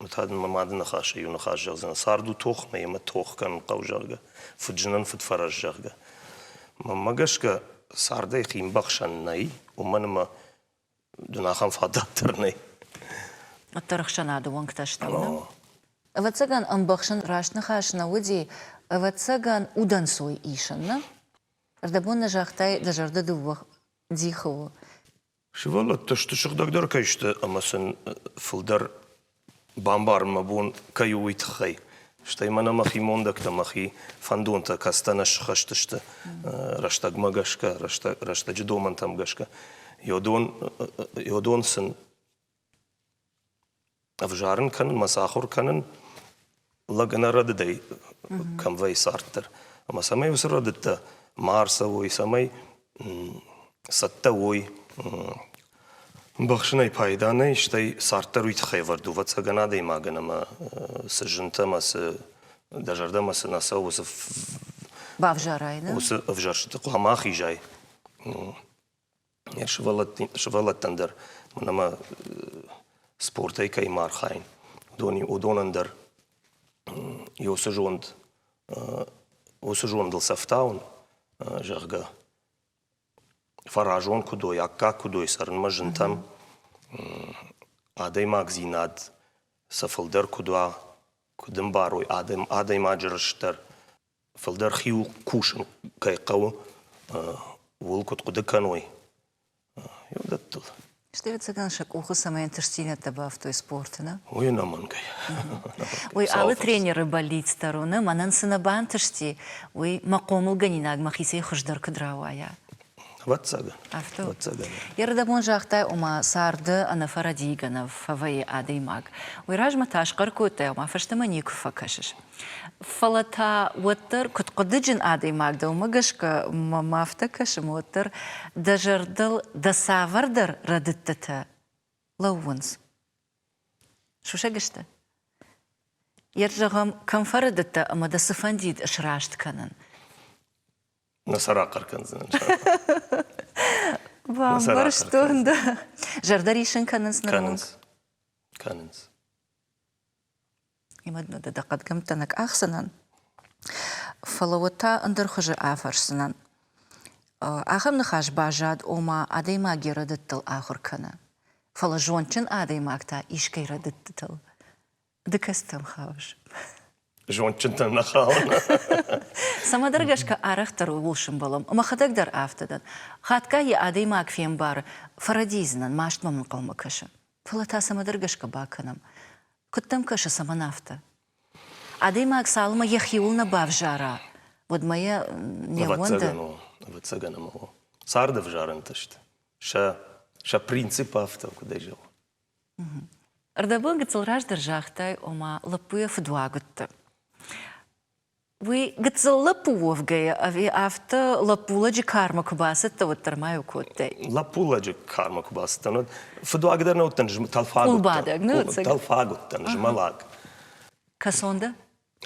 Уый та дын мӕ мады ныхасы иу ныхас зӕгъдзынӕн, цард у тох нӕ ӕмӕ тох кӕнын хъӕуы, зӕгъгӕ, фыдзынӕн фыдфӕрӕз, зӕгъгӕ. Мӕнмӕ гӕсгӕ, цардӕй химбӕхсӕн нӕй, уымӕн ӕмӕ дын ахӕм фадат дӕр нӕй. Уӕддӕр ӕхсӕнады уӕнгтӕ стӕм, нӕ? Ӕвӕццӕгӕн, ӕмбӕхсын раст ныхас нӕ уыди, ӕвӕццӕгӕн, удӕнцой исын, нӕ? Ӕрдӕбон нӕ загътай, дӕ зӕрдӕ дыууӕ дихы у. Сывӕллӕттӕ сты сыгъдӕгдӕр кӕй сты ӕмӕ сын фылдӕр бамбарын мӕ бон кӕй у, уый тыххӕй. Стӕй мӕнӕ мӕхи мондӕгтӕ, мӕхи фӕндонтӕ кӕстӕн ӕссыхӕст сты рӕстӕгмӕ гӕсгӕ, рӕстӕг, рӕстӕджы домӕнтӕм гӕсгӕ. Йодон, йодон сын Ӕвзарын кӕнын мӕ сахуыр кӕнын лӕг ӕнӕрӕдыдӕй кӕм вӕййы царддӕр. Ӕмӕ цӕмӕй уыцы рӕдыдтӕ ма ӕрцӕуой, цӕмӕй цӕттӕ уой ӕмбӕхсынӕй пайда нӕй, стӕй царддӕр уый тыххӕй ӕвӕрд у ӕвӕццӕгӕн адӕймагӕн ӕмӕ цы зынтӕ ӕмӕ цы дӕ зӕрдӕмӕ цы нӕ цӕуы уыцы бавзарай, нӕ? Уыцы ӕвзӕрстыты хъуамӕ ахизай. Йӕ сывӕллӕттӕн дӕр ӕмӕ спортӕй кӕимӕ архайын, уыдонӕн дӕр иу цы зонд уыцы зондыл сӕфтауын, зӕгъгӕ, фӕразон куыд уой, аккаг куыд уой цӕрынмӕ зынтӕм, адӕймагдзинад сӕ фылдӕр куыд уа, куыд ӕмбарой адӕймаджы рыст дӕр. Фылдӕр хиу кусын кӕй хъӕуы, ууыл куыд хъуыды кӕной, уыдӕттыл. Стӕй, ӕвӕццӕгӕн, сӕ къухы цӕмӕй ӕнтыстдзинӕдтӕ бафтой спорты, нӕ? Уый ӕнӕмӕнгӕй. Уый алы тренеры бӕллиц дӕр у, нӕ? Мӕнӕн цы нӕ бантысти, уый мӕ хъомылгӕнинаг мӕхицӕй хуыздӕр куыд рауайа? Ватсага. Афтӕ? Ватсаганы. Ердӕбон загътай, ома царды ӕнӕфӕрӕдийгӕнӕг фӕвӕййы адӕймаг. Уый размӕ та схъӕр кодтай, ома фӕстӕмӕ никуы фӕкӕсыс. Фӕлӕ та уӕддӕр, куыд хъуыдыджын адӕймаг дӕ, уымӕ гӕсгӕ мӕм афтӕ кӕсы, уӕддӕр дӕ зӕрдыл дӕ цавӕрдӕр рӕдыдтытӕ лӕууынц. Сусӕг сты? Йед зӕгъӕм, кӕм фӕрӕдыдтӕ ӕмӕ дӕ цы фӕндид сраст кӕнын? Нӕ сӕ рахъӕр кӕндзынӕн. Бамбӕрстон, да. Зӕрдӕ рисын кӕнынц нырмӕ? Кӕнынц. Имадмӕ дӕ хъӕдгӕмттӕ нӕ къахдзынӕн, фӕлӕ уӕд та ӕндӕр хуызы афӕрсдзынӕн. Ахӕм ныхас баззад, ома адӕймаг йӕ рӕдыдтыл ахуыр кӕны, фӕлӕ зондджын адӕймаг та искӕй рӕдыдтытыл Ды кӕцытӕм хауыс? Зондджынтӕм нӕ хауын. Цӕмӕдӕр гӕсгӕ арӕхдӕр ууыл сымбӕлӕм. Мӕхӕдӕг дӕр афтӕ дӕн. Хатгай йӕ адӕймаг фембары, фӕрӕдидзынӕн, маст мӕм ӕнхъӕлмӕ кӕсы. Фӕлӕ та цӕмӕдӕр гӕсгӕ бакӕнӕм. Куыд дӕм кӕсы, цӕмӕн афтӕ? Адӕймаг цалынмӕ йӕхиуыл нӕ бавзара, уӕдмӕ йӕ не ууӕнды. Ӕвӕццӕгӕн ӕмӕ царды ӕвзарӕнтӕ сты. Сӕ принцип афтӕ, куыдӕй зӕгъон, Ӕрдӕбыл гыццыл раздӕр загътай, ома лӕппуйӕ фыдуаг уыдты. Уый гыццыл лӕппу уӕвгӕйӕ ӕви афтӕ лӕппулӕджы кармӕ куы бацыдтӕ, уӕддӕр ма йыл кодтай? Лӕппулӕджы кармӕ куы бацыдтӕн, уӕд фыдуаг дӕр нӕ уыдтӕн, тӕлфаг уыдтӕн. Къулбадӕг, нӕ ӕцӕг. Тӕлфаг уыдтӕн, змӕлӕг. Кӕсон дӕ?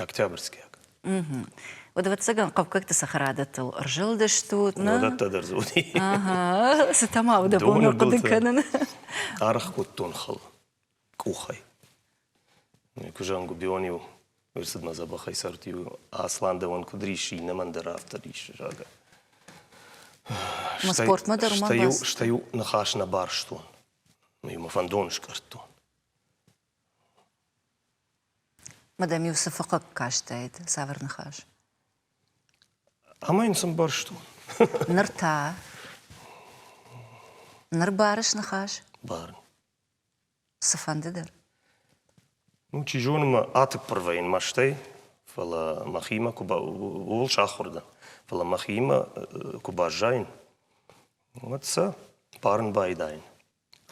Октябрьскиаг. Угу. Уӕд, ӕвӕццӕгӕн, хъӕуккӕгты цӕхӕрадӕттыл ӕрзылдыстут. Уыдӕттӕ дӕр дзы уыди. Цытӕ ма уыдӕбон хъуыды кӕнын. Аргъ кодтон хыл къухӕй. Куызӕн губион-иу ӕрцыдмӕ дзӕбӕхӕй сӕрты-иу Аслан дӕуӕн куыд рисsi, иннӕмӕн дӕр афтӕ риссы, зӕгъгӕ. Мӕ спортмӕ дӕр уымӕ бацыд? Стӕй-иу ныхас нӕ барстон. Мӕ фӕндон скъӕрдтон. Ма дӕм-иу цы фыхъхъаг кастаид цавӕр ныхас? Ӕмӕ йын цы мбӕрстон? Ныр та? Ныр барыс ныхас? Барын. Цыфӕнды дӕр? Ну, чи зоны, мӕ атыппырвӕй йын мӕстӕй, фӕлӕ мӕхимӕ куы ба... ууыл сахуыр дӕн. Фӕлӕ мӕхиимӕ куы баззайын, уӕд сӕ барын байдайын.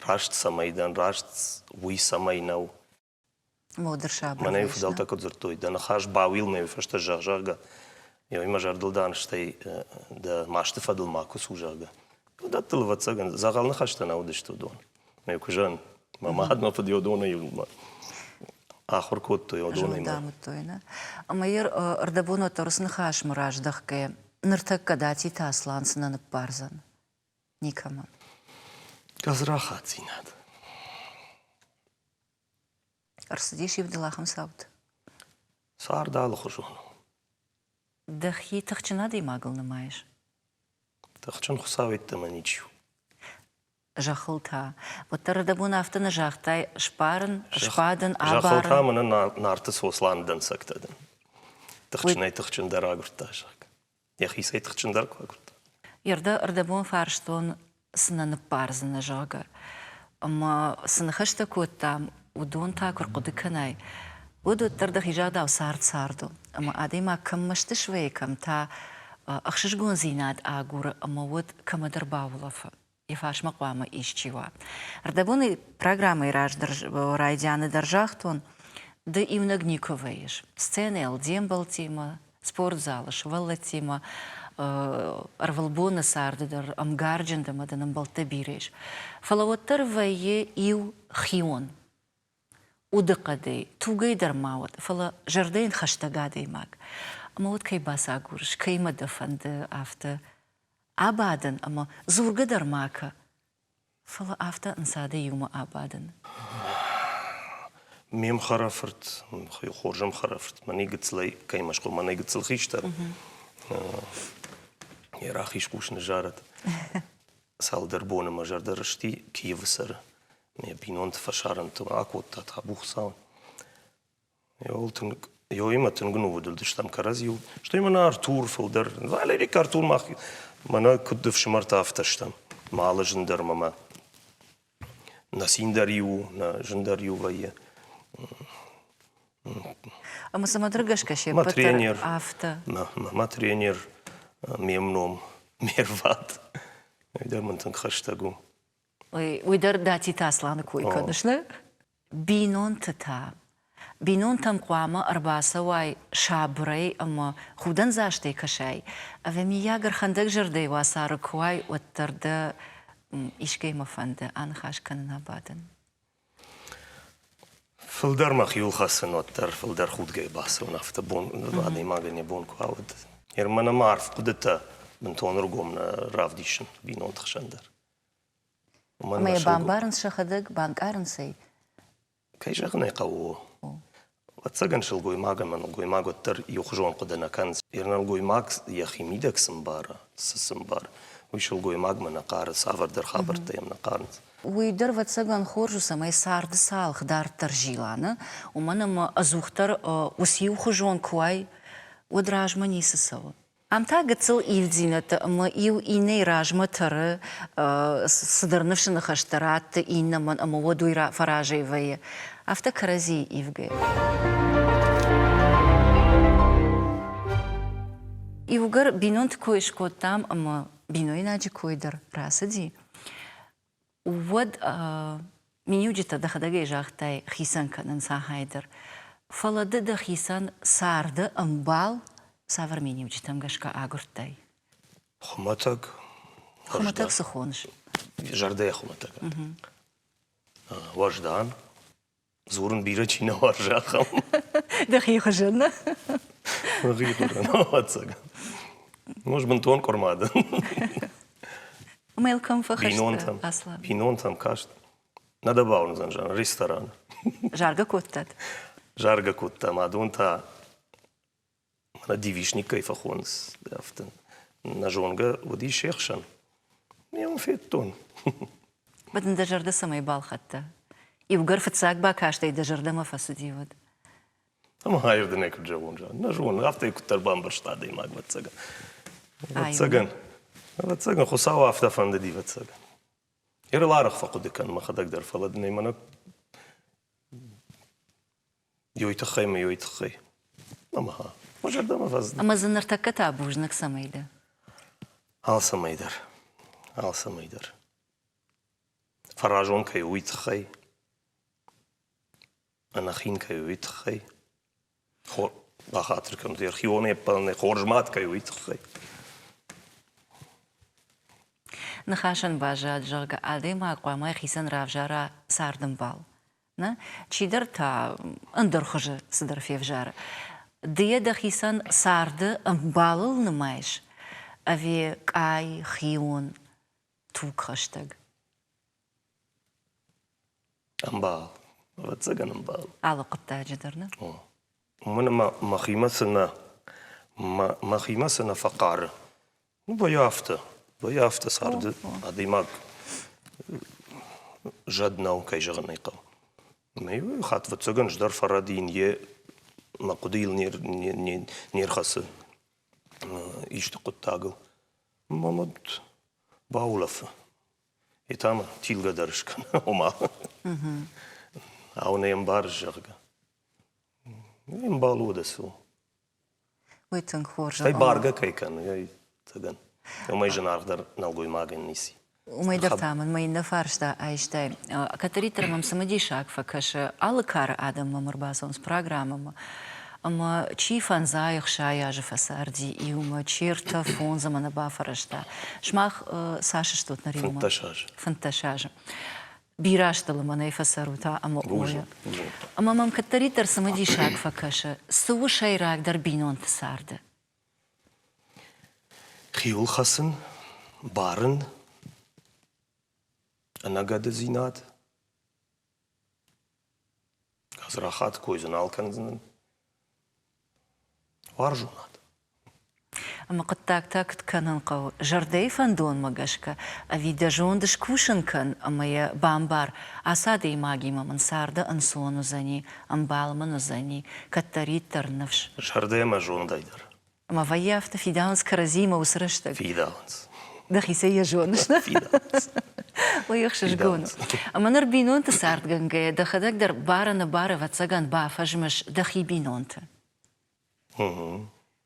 Раст цӕмӕй дӕн, раст уый цӕмӕй нӕу. Моды сабыр. Мӕнӕ фыдӕлтӕ куыд дзырдтой, дӕ ныхас бауил мӕ уый фӕстӕ зӕгъ, зӕгъгӕ. Ой, мӕ зӕрдыл дӕн, стӕй дӕ масты фӕдыл макуы цу, зӕгъгӕ. Уыдӕттыл, ӕвӕццӕгӕн, дзӕгъӕл ныхӕстӕ нӕ уыдысты уыдон. Мӕ куызӕн. Мӕ мад мӕ фыд Иодонӕй ахуыр кодтой Иодонӕй. Дамыдтой, нӕ? Ӕмӕ йӕ ӕрдӕбонуӕттӕ уыцы ныхасмӕ раздӕхгӕ, ныртӕккӕ Дати Таслан цынӕ ныббардзӕн? Никӕмӕн. Гадзрахатдзинад. Ӕрцыдис ивдыл ахӕм цауд? Цард алыхуызон у. Дӕхи тыхджын адӕймагыл нымайыс? Тыхджын хуыцауӕйттӕмӕ ничи у. Зӕххыл та. Уӕддӕр дӕ бон афтӕ нӕ загътай, сбарын, сбадын, абарын. Зӕххыл та мӕнӕ Нарты Сосланы дӕнцӕгтӕ дӕн. Тыхджынӕй тыхджындӕр агуырдта зӕхх. йӕхицӕй тыхджындӕр куы агуырда. Ердӕ рдӕбон фарстон, цы нӕ ныббардзынӕ, зӕгъгӕ. Ӕмӕ цы ныхӕстӕ кодтам, уыдон та куы рхъуыды кӕнай, уӕд уӕддӕр дӕхи загъдау цард цард у. Ӕмӕ адӕймаг кӕм мӕсты суайы, кӕм та ӕхсызгондзинад агуры ӕмӕ уӕд кӕмӕдӕр баулӕфы. Йӕфарсмӕ хъуамӕ исчи уа. Ӕрдӕбоны программӕйы раздӕр райдианы дӕр загътон, ды иунӕг никуы вӕййыс. Сценӕйыл де мбӕлтимӕ, спортзалы сывӕллӕттимӕ ӕрвылбоны царды дӕр ӕмгарджын дӕ мӕ дын ӕмбӕлттӕ бирӕ ис. Фӕлӕ уӕддӕр вӕййы иу хион. удыхъӕдӕй, тугӕй дӕр ма уӕд, фӕлӕ зӕрдӕйӕн хӕстӕг адӕймаг. Ӕмӕ уӕд кӕй бацагурыс, кӕимӕ дӕ фӕнды, афтӕ абадын ӕмӕ дзургӕ дӕр ма кӕ, фӕлӕ афтӕ ӕнцадӕй иумӕ абадын. Ме мхӕрӕфырт, хорзӕн хӕрӕфырт, мӕнӕй гыццылӕй кӕй мӕ схур, мӕнӕй гыццыл хистӕр, йӕ рахиз хъус ныззарӕд. Цалдӕр боны мӕ зӕрдӕ рысти Киевы цӕры Ме бинонты фӕсарӕнтыл акодта Табухцау. Йыл тынг Ёимӕ тынг нывыд уыдыстӕм кӕрӕдзиуыл. Стӕй мӕнӕ Артур фылдӕр. Валерий к Артур мах мӕнӕ куыд ӕфсымӕртӕ афтӕ стӕм. Ма алы зын дӕр мӕмӕ. Нӕ цин дӕр-иу у, нӕ зын дӕр-иу вӕййы. Ӕмӕ цымӕдӕр гӕсгӕ се ппӕт афтӕ. Мӕ тренер, ме мном, ме рвад. Уый дӕр мын тынг хӕстӕг у. Уый дӕр Датиты Асланы кой кӕныс, нӕ? Бинонты та? Бинонтӕм хъуамӕ ӕрбацӕуай сабырӕй ӕмӕ худӕндзастӕй кӕсай, ӕви, миййаг, ӕрхӕндӕгзӕрдӕйы уацары куы уай, уӕддӕр дӕ искӕй мӕ фӕнды аныхас кӕнын абадын? Фылдӕр мӕхиуыл хӕцын, уӕддӕр фылдӕр худгӕйӕ бацӕуын афтӕ бон адӕймагӕн йӕ бон куы ауӕд. Ныр мӕн ӕмӕ арф хъуыдытӕ бынтон ӕргом нӕ равдисын бинонты хсӕн дӕр. Ӕмӕ йӕ бамбарынц сӕхӕдӕг, банкъарынц ӕй? Кӕй зӕгъын ӕй хъӕуы, ӕвӕццӕгӕн сылгоймаг ӕмӕ нӕлгоймаг уӕддӕр иухуызон хъуыды нӕ кӕнынц. Йе нӕлгоймаг йӕхи мидӕг цы мбара, цы цы мбар, уый сылгоймагмӕ нӕ хъары, цавӕрдӕр хабӕрттӕ йӕм нӕ хъарынц. Уый дӕр, ӕвӕццӕгӕн, хорз у, цӕмӕй царды цалх дарддӕр зила, нӕ? Уымӕн ӕмӕ ӕдзухдӕр ус иухуызон куы уай, уӕд размӕ ницы цӕуы. Ам та гыццыл ивддзинӕдтӕ ӕмӕ иу иннӕйы размӕ тӕры, цыдӕр ныфсы ныхӕстӕ ратты иннӕмӕн ӕмӕ уӕд уый фӕразӕй вӕййы афтӕ кӕрӕдзийы ивгӕйӕ. Иугӕр бинонты кой скодтам ӕмӕ бинойнаджы кой дӕр рацыди, уӕд миниуджытӕ дӕхӕдӕгӕй загътай хицӕн кӕнын сахӕй дӕр. Фӕлӕ ды дӕхицӕн царды ӕмбал цавӕр миниуджытӕм гӕсгӕ агуырдтай? Хуымӕтӕг. Хуымӕтӕг цы хоныс? Зӕрдӕйӕ хуымӕтӕг. Уӕздан. дзурын бирӕ чи нӕ уарзы, ахӕм. Дӕхи хуызӕн, нӕ? Мӕхи хуызӕн, ӕвӕццӕгӕн. Ноз бынтон къуырма дӕн. Мелком фӕхӕсты аслам. Бинонтӕм каст. Нӕ дӕ бауырндзӕн, зӕгъын, ресторан. Заргӕ кодтат? Заргӕ кодтам, адон та девичник кӕй фӕхонынц, афтӕ нӕ зонгӕ уыдис се хсӕн. Ме уын федтон. Уӕд ын дӕ зӕрдӕ цӕмӕй балхӕдта? Иугӕр фыццаг бакастӕй дӕ зӕрдӕмӕ фӕцыди, уӕд? Ӕмӕ ӕрдынӕй куыд зӕгъон, зӕгъын, нӕ зонын, афтӕ куыддӕр бамбӕрста адӕймаг, ӕвӕццӕгӕн. Ӕвӕццӕгӕн, ӕвӕццӕгӕн, Хуыцау афтӕ фӕндыди, ӕвӕццӕгӕн. Ӕрыл арӕх фӕхъуыды кӕн мӕхӕдӕг дӕр, фӕлӕ дын ӕй мӕнӕ Йой тыххӕй мӕ йой тыххӕй. Ӕмӕ ха мӕ зӕрдӕмӕ фӕзыны. Ӕмӕ дзы ныртӕккӕ та бузныг цӕмӕй дӕ? Алцӕмӕй дӕр. Алцӕмӕй дӕр. Фӕразон кӕй у, уый тыххӕй. Ӕнӕхин кӕй у, уый тыххӕй. Хор бахатыр кӕнут, архивонӕй ӕппӕлынӕй хорз мад кӕй у, уый тыххӕй. Ныхасӕн баззад, зӕгъгӕ, адӕймаг хъуамӕ хицӕн равзара цардӕмбал. Нӕ? Чидӕр та ӕндӕр хуызы цыдӕр февзӕры. Ды йӕ дӕхицӕн царды ӕмбалыл нымайыс ӕви къай, хион, тугхӕстӕг? Ӕмбал. Ӕвӕццӕгӕн ӕмбал. Алы хъуыддаджы дӕр нӕ? О. Уымӕн ӕмӕ мӕхимӕ цы нӕ. Мӕ, мӕхимӕ цы нӕ фӕхъары, Ну, вӕййы афтӕ. Вӕййы афтӕ царды адӕймаг зӕд нӕу, кӕй зӕгъын ӕй хъӕуы. Ӕмӕ хатт ӕвӕццӕгӕн ӕз дӕр фӕрӕдийын йӕ мӕ хъуыдыйыл не не не рхӕцы исты хъуыддагыл. Мӕм уӕд баулӕфы. Йе та мӕ тилгӕ дӕр скӕны, ома. Ау, нӕ ӕмбарыс, зӕгъгӕ. Ӕмбал у уӕдӕ цы у. Уый тынг хорз. Стӕй бӕргӕ кӕй кӕны, уымӕй зынаргъдӕр нӕлгоймагӕн ницы. Уымӕй дӕр та мын мӕ иннӕ фарста айстай. Кӕддӕриддӕр мӕм цымыдисаг фӕкӕсы, алы кары адӕм мӕм ӕрбацӕуынц программӕмӕ ӕмӕ чи фӕндзай ӕхсай азы фӕцарди иумӕ, чи ӕртӕ фондзӕм ӕнӕ бафӕрӕзта. Сымах цас стут нӕ риумӕ? Фынддӕс азы. Фынддӕс азы. бирӕ азты лымӕнӕй фӕцӕрут ӕмӕ ойӕ. Ӕмӕ мӕм кӕддӕриддӕр цымыдисаг фӕкӕсы, цы у сӕйрагдӕр бинонты царды? Хиуыл хӕцын, барын, ӕнӕгӕдыдзинад. Гадзрахат кой дзы нал кӕндзынӕн. Уарзонад. Ӕмӕ хъуыддагтӕ куыд кӕнын хъӕуы зӕрдӕйы фӕндонмӕ гӕсгӕ? Ӕви дӕ зонд скусын кӕн ӕмӕ йӕ бамбар, ацы адӕймагимӕ мын царды ӕнцон уыдзӕни, ӕмбал мын уыдзӕни, кӕддӕриддӕр ныфс. Зӕрдӕ ӕмӕ зондӕй дӕр Ӕмӕ вӕййӕфты фидауынц кӕрӕдзиимӕ уыцы рӕстӕг. Фидауынц. Дӕхицӕй йӕ зоныс, нӕ? Фидауынц. Лӕгӕхсызгон у. Ӕмӕ ныр бинонты цардгӕнгӕйӕ дӕхӕдӕг дӕр бары-ныбары ӕвӕццӕгӕн бафӕзмыс дӕхи бинонты.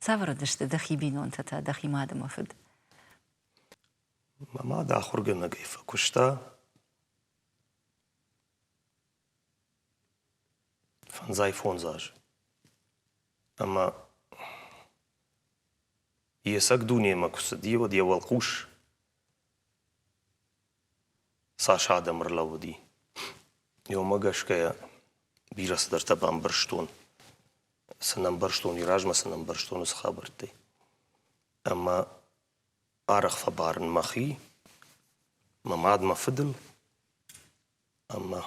Цавӕр уыдысты дӕхи бинонтӕ та дӕхи мад ӕмӕ фыд? Мӕ мад ахуыргӕнӕгӕй фӕкуыста. фӕндзай-фондз азы. Ӕмӕ йе цӕг дунемӕ куы цыди, уӕд йӕ уӕлхъус цас адӕм ӕрлӕууыди. Уымӕ гӕсгӕ бирӕ цыдӕртӕ бамбӕрстон. Цы нӕ ӕмбӕрстон, уый размӕ цы нӕ ӕмбӕрстон, уыцы хабӕрттӕй. Ӕмӕ арӕх фӕбарын мӕхи, мӕ мад, мӕ фыдыл. Ӕмӕ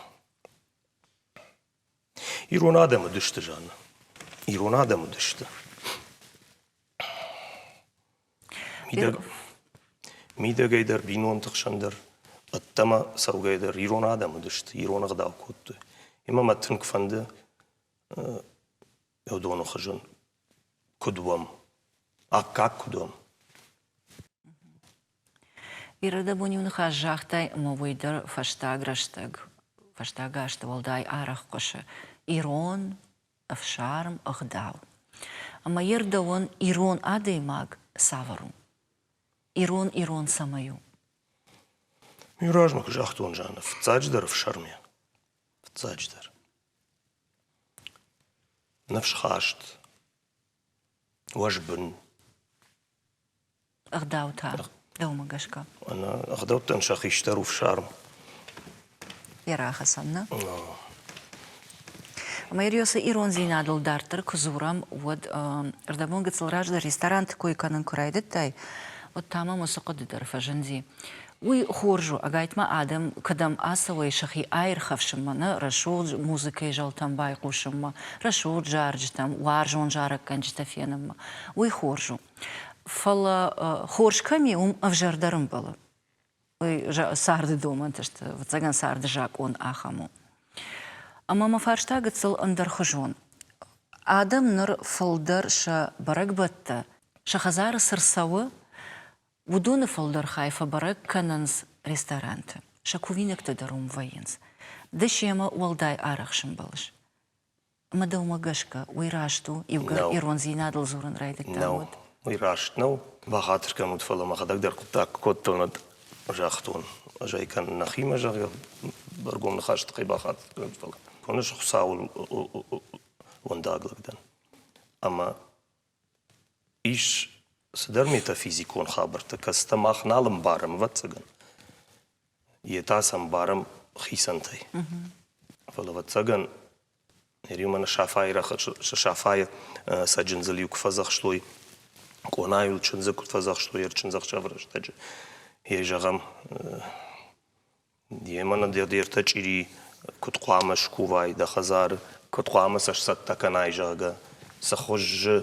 ирон адӕм уыдысты, Жанна. Ирон адӕм уыдысты. Мидӕг, мидӕгӕй дӕр, бинонты хсӕн дӕр, ӕддӕмӕ цӕугӕ дӕр ирон адӕм уыдысты, ирон ӕгъдау кодтой. Ӕмӕ мӕ тынг фӕнды йӕ доны хуызӕн куыд уӕм, аккаг куыд уӕм. Ирӕдӕбон-иу ныхас загътай ӕмӕ уый дӕр фӕстаг рӕстӕг, фӕстаг азты уӕлдай арӕх хъуысы ирон ӕфсарм, ӕгъдау. Ӕмӕ йе рдӕуӕн ирон адӕймаг цавӕр у? Ирон-ирон цӕмӕй у? Иу размӕ куы загътон, Жанна, фыццаджыдӕр ӕфсармӕн. Фыццаджыдӕр. Ныфсхаст, уӕзбын, ӕгъдаутӕ дӕумӕ гӕсгӕ? Ӕгъдӕуттӕн сӕ хистӕр у фсарм. Йе рахӕцӕн, нӕ? Мэрия, цы ирондзинадыл дарддӕр куы дзурӕм, уӕд ӕрдӕбон гыццыл раздӕр ресторанты кой кӕнын куы райдыдтай, уӕд та мӕм уыцы хъуыды дӕр фӕзынди. Уый хорз у, ӕгайтма адӕм кӕдӕм ацӕуой сӕхи аирхӕфсынмӕ, нӕ рӕсугъд музыкӕйы зӕлтӕм байхъусынмӕ, рӕсугъд зарджытӕм, уарзон зарӕггӕнджытӕ фенынмӕ. Уый хорз у. Фӕлӕ хорз кӕм и, уым ӕвзӕрдӕр ӕмбӕлы. Уый царды домӕнты сты, ӕвӕццӕгӕн царды закъон ахӕм у. Ӕмӕ мӕ фарста гыццыл ӕндӕрхуызон. Адӕм ныр фылдӕр сӕ бӕрӕгбӕттӕ сӕ хӕдзары цы рцӕуы, уыдоны фылдӕр хай фӕбӕрӕг кӕнынц ресторанты. Сӕ кувинӕгтӕ дӕр уым вӕййынц. Ды семӕ уӕлдай арӕх сӕмбӕлыс? Мӕ дӕумӕ гӕсгӕ, уый раст у, иугӕр ирондзинадыл дзурын райдыдтам, уӕд? Уый раст нӕу. Бахатыр кӕн уыд, фӕлӕ мӕхӕдӕг дӕр хъуыддаг куы кодтон, уӕд загътон, ӕз ӕй кӕнын нӕхимӕ, зӕгъгӕ, ӕргом ныхасы тыххӕй бахатыр кӕн, фӕлӕ. Хоны Хуыцауыл уӕндаг лӕг дӕн. Ӕмӕ Ис цыдӕр метафизикон хабӕрттӕ, кӕцытӕ мах нал ӕмбарӕм, ӕвӕццӕгӕн. Йе та сӕ ӕмбарӕм хицӕнтӕй. Фӕлӕ, ӕвӕццӕгӕн, ныр иу мӕнӕ Сафайы рӕхыс Сафайы цӕджындзыл иу куы фӕдзӕхстой, къонайыл чындзы куыд фӕдзӕхстой ӕрчындзӕхсӕвы рӕстӕджы, йӕй зӕгъӕм, Демӕ нӕ де ртӕ чъири куыд хъуамӕ скувай дӕ хӕдзары, куыд хъуамӕ сӕ сцӕттӕ кӕнай, зӕгъгӕ. Цы хуызы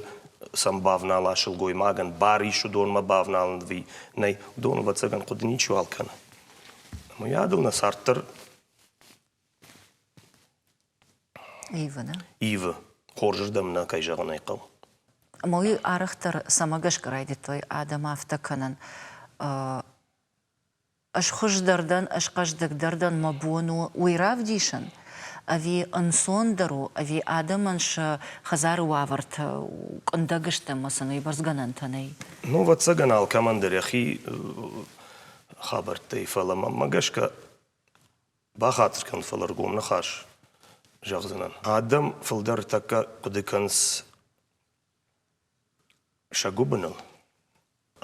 сӕм бавнала сылгоймагӕн, бар ис уыдонмӕ бавналын ӕви нӕй, уыдон, ӕвӕццӕгӕн, хъуыды ничиуал кӕны. Уыйадыл нӕ цард дӕр ивы, нӕ? Ивы. Хорзырдӕм нӕ, кӕй зӕгъын ӕй хъӕуы. Ӕмӕ уый арӕхдӕр цӕмӕ гӕсгӕ райдыдтой адӕм афтӕ кӕнын? Ӕз хуыздӕр дӕн, ӕз хъӕздыгдӕр дӕн, мӕ бон у уый равдисын, ӕви ӕнцондӕр у, ӕви адӕмӕн сӕ хӕдзары уавӕртӕ къуындӕг сты ӕмӕ сын уыйбӕрц гӕнӕнтӕ нӕй? Ну, ӕвӕццӕгӕн, алкӕмӕн дӕр йӕхи хабӕрттӕй, фӕлӕ мӕнмӕ гӕсгӕ бахатыр кӕн, фӕлӕ ргом ныхас зӕгъдзынӕн. Адӕм фылдӕр тӕккӕ хъуыды кӕнынц сӕ гуыбыныл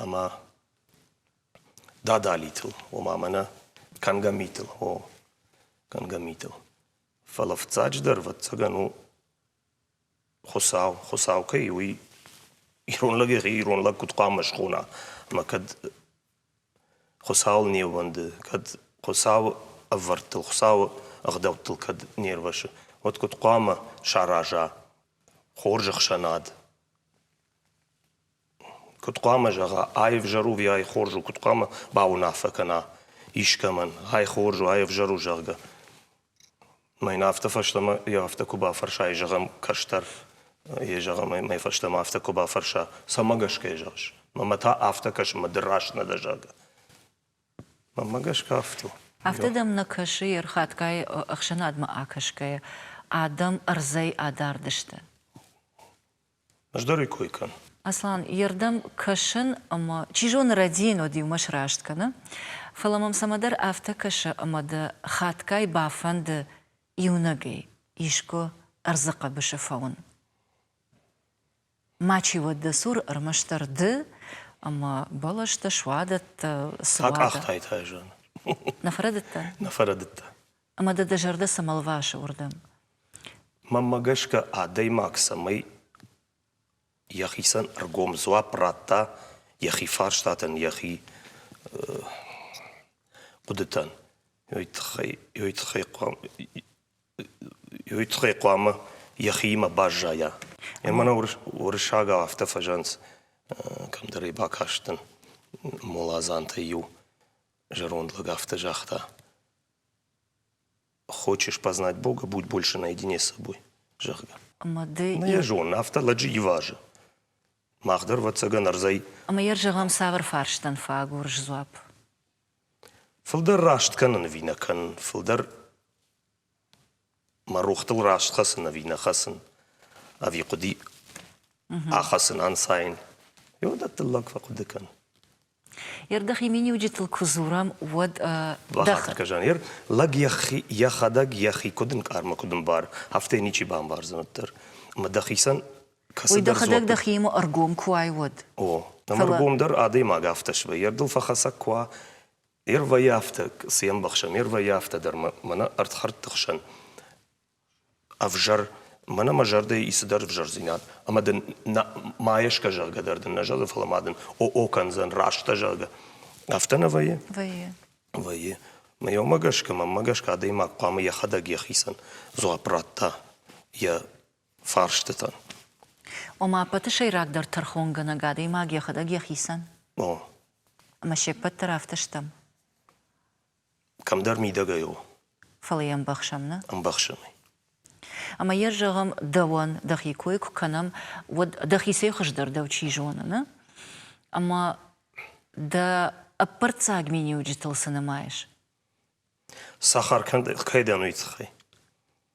ӕмӕ дадалитыл, ома мӕнӕ кӕнгӕ митыл, о, кӕнгӕ митыл. Фӕлӕ фыццаджыдӕр, ӕвӕццӕгӕн, у Хуыцау. Хуыцау кӕй у, уый ирон лӕг йӕхи ирон лӕг куыд хъуамӕ схона ӕмӕ кӕд Хуыцауыл не ууӕнды, кӕд Хуыцауы ӕвӕрдтыл, Хуыцауы ӕгъдӕуттыл кӕд не рвӕсы, уӕд куыд хъуамӕ сараза хорз ӕхсӕнад? Куыд хъуамӕ зӕгъа, ай ӕвзӕр у ӕви ай хорз у, куыд хъуамӕ бауынаффӕ кӕна искӕмӕн, ай хорз у, ай ӕвзӕр у, зӕгъгӕ. Мӕн афтӕ фӕстӕмӕ йӕ афтӕ куы бафӕрса, ӕй зӕгъӕм кӕстӕр, ӕй зӕгъӕм, ӕй мӕй фӕстӕмӕ афтӕ куы бафӕрса, цӕмӕ гӕсгӕ йӕ зӕгъыс? Мӕмӕ та афтӕ кӕс, ӕмӕ ды раст нӕ дӕ, зӕгъгӕ. Мӕнмӕ гӕсгӕ афтӕ у. Афтӕ дӕм нӕ кӕсы, йе рхатгай ӕхсӕнадмӕ акӕсгӕйӕ, адӕм ӕрдзӕй адард сты? Ӕз дӕр ӕй кой кӕн. Аслан, йе рдӕм кӕсын ӕмӕ, чи зоны, Родийӕнод иумӕ сраст кӕны, фӕлӕ мӕм цӕмӕдӕр афтӕ кӕсы, ӕмӕ дӕ хатгай бафӕнды иунӕгӕй искуы ӕрдзы хъӕбысы фӕуын. Мачи уӕд дӕ цур ӕрмӕстдӕр ды ӕмӕ бӕлӕстӕ, суадӕттӕ, Та къахтаит айзӕны. Нӕ фӕрӕдыдтӕ? Нӕ фӕрӕдыдтӕ. ӕмӕ дӕ дӕ зӕрдӕ цӕмӕ лвасы уырдӕм? Мӕнмӕ гӕсгӕ, адӕймаг цӕмӕй йӕхицӕн ӕргом дзуапп радта йӕхи фарстатӕн, йӕхи хъуыдытӕн, йой тыххӕй, йой тыххӕй хъуамӕ, йой тыххӕй хъуамӕ йӕхиимӕ баззайа. Ӕмӕ нӕ уырыссагау афтӕ фӕзӕнц, кӕмдӕр ӕй бакастӕн, моладзантӕй иу зӕронд лӕг афтӕ загъта, хочешь познать бога будь больше наедине с собой зӕгъгӕ йӕ зонын афтӕ лӕджы ивазы мах дӕр ӕвӕццӕгӕн ӕрдзӕй ӕмӕ йӕ зӕгъӕм цавӕр фарстӕн фӕагурыс дзуапп фылдӕр раст кӕнын ӕви нӕ кӕнын фылдӕр мӕ рохтыл раст хӕцын ӕви нӕ хӕцын ӕви хъуыди ахӕцын ӕнцайын иуӕндӕттыл лӕг фӕхъуыды кӕн Ердӕхи миниуджытыл куы дзурӕм, уӕд. Бахатыр Жанер, лӕг йӕхӕдӕг йӕхи куыд ӕнкъармы, куыд ӕмбар, афтӕ ничи бамбардзӕн уӕддӕр. Ӕмӕ дӕхицӕн кӕцыдӕр Уый дӕхӕдӕг дӕхиимӕ ӕргом куы уай, уӕд. О, ӕмӕ ӕргом дӕр адӕймаг афтӕ свӕййы, ӕрдыл фӕхӕцӕг куы уа, ер вӕййы афтӕ, цы йӕ ӕмбӕхсӕм, ер вӕййы афтӕ дӕр, мӕнӕ ӕрдхӕрдты хсӕн Ӕвзӕр, мӕнӕ мӕ зӕрдӕйы ис цыдӕр ӕвзӕрдзинад, ӕмӕ дын нӕ ма есгӕ зӕгъгӕ дӕр дын нӕ зӕгъы, фӕлӕ ма дын о-о кӕндзӕн, раст дӕ зӕгъгӕ. Афтӕ нӕ вӕййы? Вӕййы. Вӕййы. Мӕ иумӕ гӕсгӕ, мӕнмӕ гӕсгӕ, адӕймаг хъуамӕ йӕхӕдӕг йӕхицӕн дзуапп ратта йӕ фарстытӕн. Ома, ӕппӕты сӕйрагдӕр тӕрхонгӕнӕг адӕймаг йӕхӕдӕг йӕхицӕн? О. Ӕмӕ се ппӕт дӕр афтӕ стӕм? Кӕмдӕр мидӕгӕй у. Фӕлӕ йӕ ӕмбӕхсӕм, нӕ? Ӕмбӕхсӕм ӕй. Ӕмӕ йӕ, зӕгъӕм, дӕуӕн дӕхи кой куы кӕнӕм, уӕд дӕхицӕй хуыздӕр дӕу чи зоны, нӕ? Ӕмӕ дӕ ӕппӕрццаг миниуджытыл цы нымайыс? Сахар кӕй дӕн, уый тыххӕй?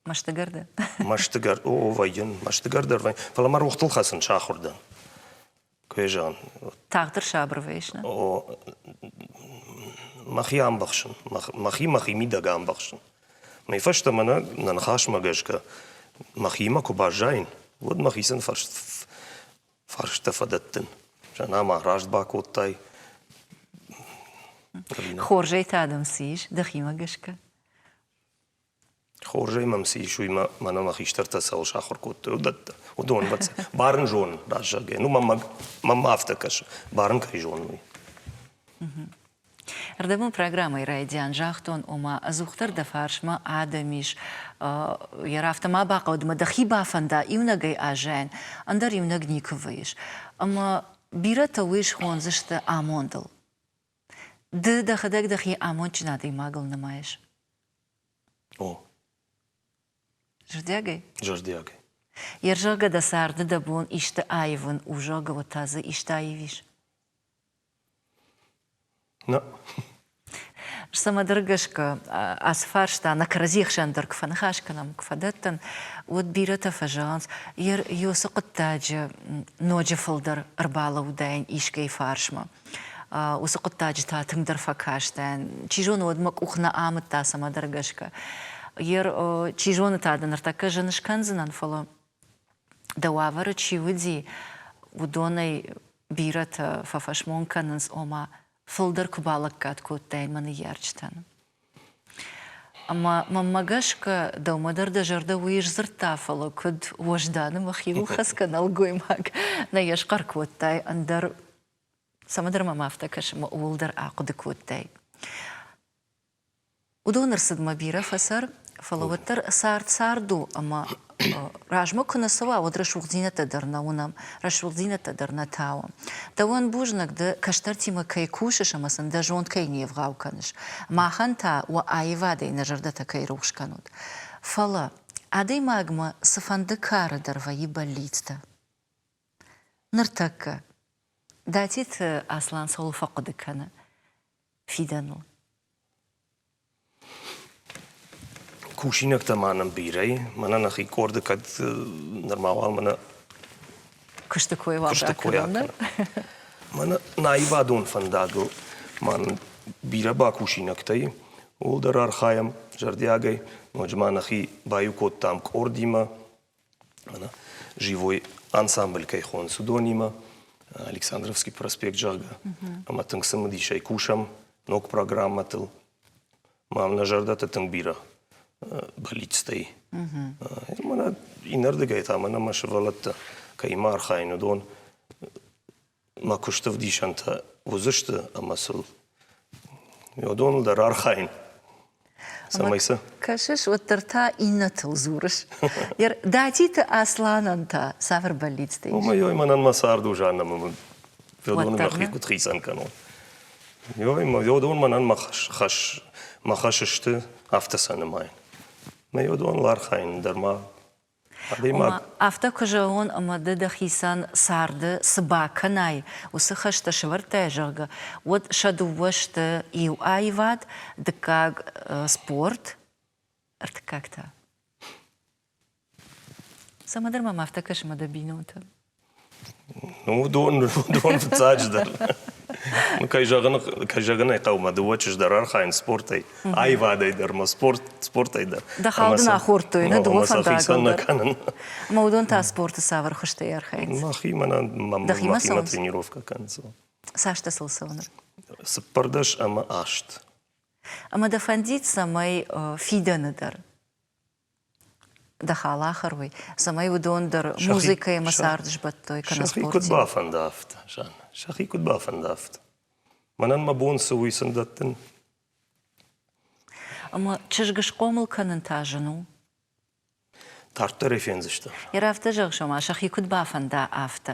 Мастыгӕрды. Мастыгӕр, о, вӕййын, мастыгӕр дӕр вӕййын. Фӕлӕ мӕ рохтыл хӕцын сахуыр дӕн. Куы йӕ зӕгъын. Тагъддӕр сабыр вӕййыс, нӕ? О, мӕхи амбӕхсын. Мӕхи мӕхи мидӕг амбӕхсын. Мӕй фӕстӕ мӕнӕ нӕ ныхасмӕ гӕсгӕ мӕхимӕ куы баззайын, уӕд мӕхицӕн фӕрстӕ фӕдӕттын. Зӕнӕма раст бакодтай. Хорзӕй та дӕм цы ис, дӕхимӕ гӕсгӕ? Хорзӕй мӕм цы ис, уый мӕнӕ мӕ хистӕртӕ цӕуыл сахуыр кодтой, уыдӕттӕ. Уыдон бӕццӕ. Барын зонын, раст зӕгъгӕ. Ну, мӕм, мӕм афтӕ кӕсы, барын кӕй зонын, уый. Ӕрдӕбон программӕйы райдиан загътон, ома ӕдзухдӕр дӕ фарсмӕ адӕм ис, йӕ рафтӕ ма бахъӕуӕд ӕмӕ дӕхи бафӕнда иунӕгӕй аззайын, ӕндӕр иунӕг никуы вӕййыс. Ӕмӕ бирӕтӕ уый схондзысты амондыл. Ды дӕхӕдӕг дӕхи амондджын адӕймагыл нымайыс. О. Зӕрдиагӕй? Зӕрдиагӕй. Йе рзӕгъгӕ дӕ царды дӕ бон исты аивын у, зӕгъгӕ, уӕд та дзы исты аивис? Нӕ. Цӕмӕдӕр гӕсгӕ ацы фарста нӕ кӕрӕдзи хсӕн дӕр куы фӕныхас кӕнӕм, куы фӕдӕттӕн, уӕд бирӕтӕ фӕзӕгъынц, йе уыцы хъуыддаджы ноджы фылдӕр ӕрбалӕууыдаин искӕй фарсмӕ. уыцы хъуыддаджытӕ тынгдӕр фӕкастӕн. Чи зоны, уӕд мӕ къух нӕ амыдта цӕмӕдӕр гӕсгӕ. Гер, чи зоны та дын ныртӕккӕ зын скӕндзынӕн, фӕлӕ дӕ уавӕры чи уыди, уыдонӕй бирӕтӕ фӕфӕсмон кӕнынц, ома фылдӕр куы балӕггад кодтай мӕ ныййарджытӕн. Ӕмӕ мӕнмӕ гӕсгӕ дӕумӕ дӕр дӕ зӕрдӕ уый сдзырдта, фӕлӕ куыд уӕзданы мӕхи ухӕцгӕ нӕлгоймаг нӕ йӕ схъӕр кодтай, ӕндӕр цӕмӕдӕр мӕм афтӕ кӕсынмӕ ууыл дӕр ахъуыды кодтай. Уыдон ӕрцыдмӕ бирӕ фӕцӕр, фӕлӕ уӕддӕр цард цард у, ӕмӕ размӕ куы нӕ цӕуа, уӕд рӕсугъддзинӕдтӕ дӕр нӕ уынӕм, рӕсугъддзинӕдтӕ дӕр нӕ тауӕм. Дӕуӕн бузныг дӕ, кӕстӕртимӕ кӕй кусыс ӕмӕ сын дӕ зонд кӕй не вгъау кӕныс. Махӕн та уӕ аивадӕй нӕ зӕрдӕтӕ кӕй рухс кӕнут. Фӕлӕ, адӕймагмӕ цыфӕнды кары дӕр вӕййы бӕллицтӕ. Ныртӕккӕ Датиты Аслан цӕуыл фӕхъуыды кӕны фидӕныл? Кусинӕгтӕ ма нӕм бирӕ и. Мӕнӕ нӕхи къорды кӕд нырма уал мӕнӕ Куысты кой уал куысты кой ракӕнон, нӕ? акӕнӕм. Мӕнӕ наивадон фӕндагыл ма нын бирӕ бакусинӕгтӕ и, ууыл дӕр архайӕм зӕрдиагӕй. Ноджы ма нӕхи баиу кодтам къордимӕ, живой ансамбль кӕй хонынц, уыдонимӕ Александровский проспект, зӕгъгӕ. Ӕмӕ тынг цымыдисӕй кусӕм ног программӕтыл. Мӕм нӕ зӕрдӕтӕ тынг бирӕ бӕллицтӕй. Ӕмӕ иннӕрдыгӕй та мӕнӕ мӕ сывӕллӕттӕ кӕимӕ архайын, уыдон мӕ куысты вдисӕнтӕ уыдзысты ӕмӕ сыл уыдоныл дӕр архайын. Цӕмӕй цы? Кӕсыс, уӕддӕр та иннӕтыл дзурыс. Датиты Асланӕн та цавӕр бӕллицтӕ ис? Омӕ, ёй, мӕнӕн мӕ цард у, Жаннӕ, мӕ феодоны мӕхи куыд хицӕн кӕнон? Ёй, мӕ феодон мӕнӕн мӕ хӕс, хӕс, мӕ хӕс сты афтӕ сӕ нымайын. Мӕ феодоныл архайын дӕр ма Ома, афтӕ куы зӕгъон, ӕмӕ ды дӕхицӕн царды цы бакӕнай, уыцы хӕстӕ сӕвӕрдтай, зӕгъгӕ, уӕд сӕ дыууӕ сты иу аивад, дыккаг спорт, ӕртыккаг та. Цӕмӕдӕр мӕм афтӕ кӕсы мӕ дӕ бинонтӕ. Уыдон, уыдон фыццаджыдӕр, кӕй зӕгъын, кӕй зӕгъын ӕй хъӕуы, дыууӕ чызджытӕ рархайынц спортӕй, аивадӕй дӕр ӕмӕ спорт, спортӕй дӕр. Дӕ хал дын ахордтой, нӕ дыууӕ фӕндагыл дӕр. Ӕмӕ уыдон та спорты цавӕр хуызтӕй архайынц? Мӕхимӕ мӕхимӕ тренировкӕ кӕнынц. Цас дӕ сыл цӕуы Цыппӕрдӕс ӕмӕ аст. Ӕмӕ дӕ фӕндид цӕмӕй фидӕны дӕр дӕ халахар уый, цӕмӕй уыдон дӕр музыкӕимӕ цард сбӕттой кӕнӕ Сӕхи куыд бафӕндӕфт, Жанна, сӕхи куыд бафӕндӕфт? Мӕнӕн мӕ бон цы у уый сын дӕттын? Ӕмӕ чызг схъомыл кӕнын та зын у? Тарддӕр ӕй фендзыстӕм. Йӕ афтӕ зӕгъыс, ома сӕхи куыд бафӕнда, афтӕ.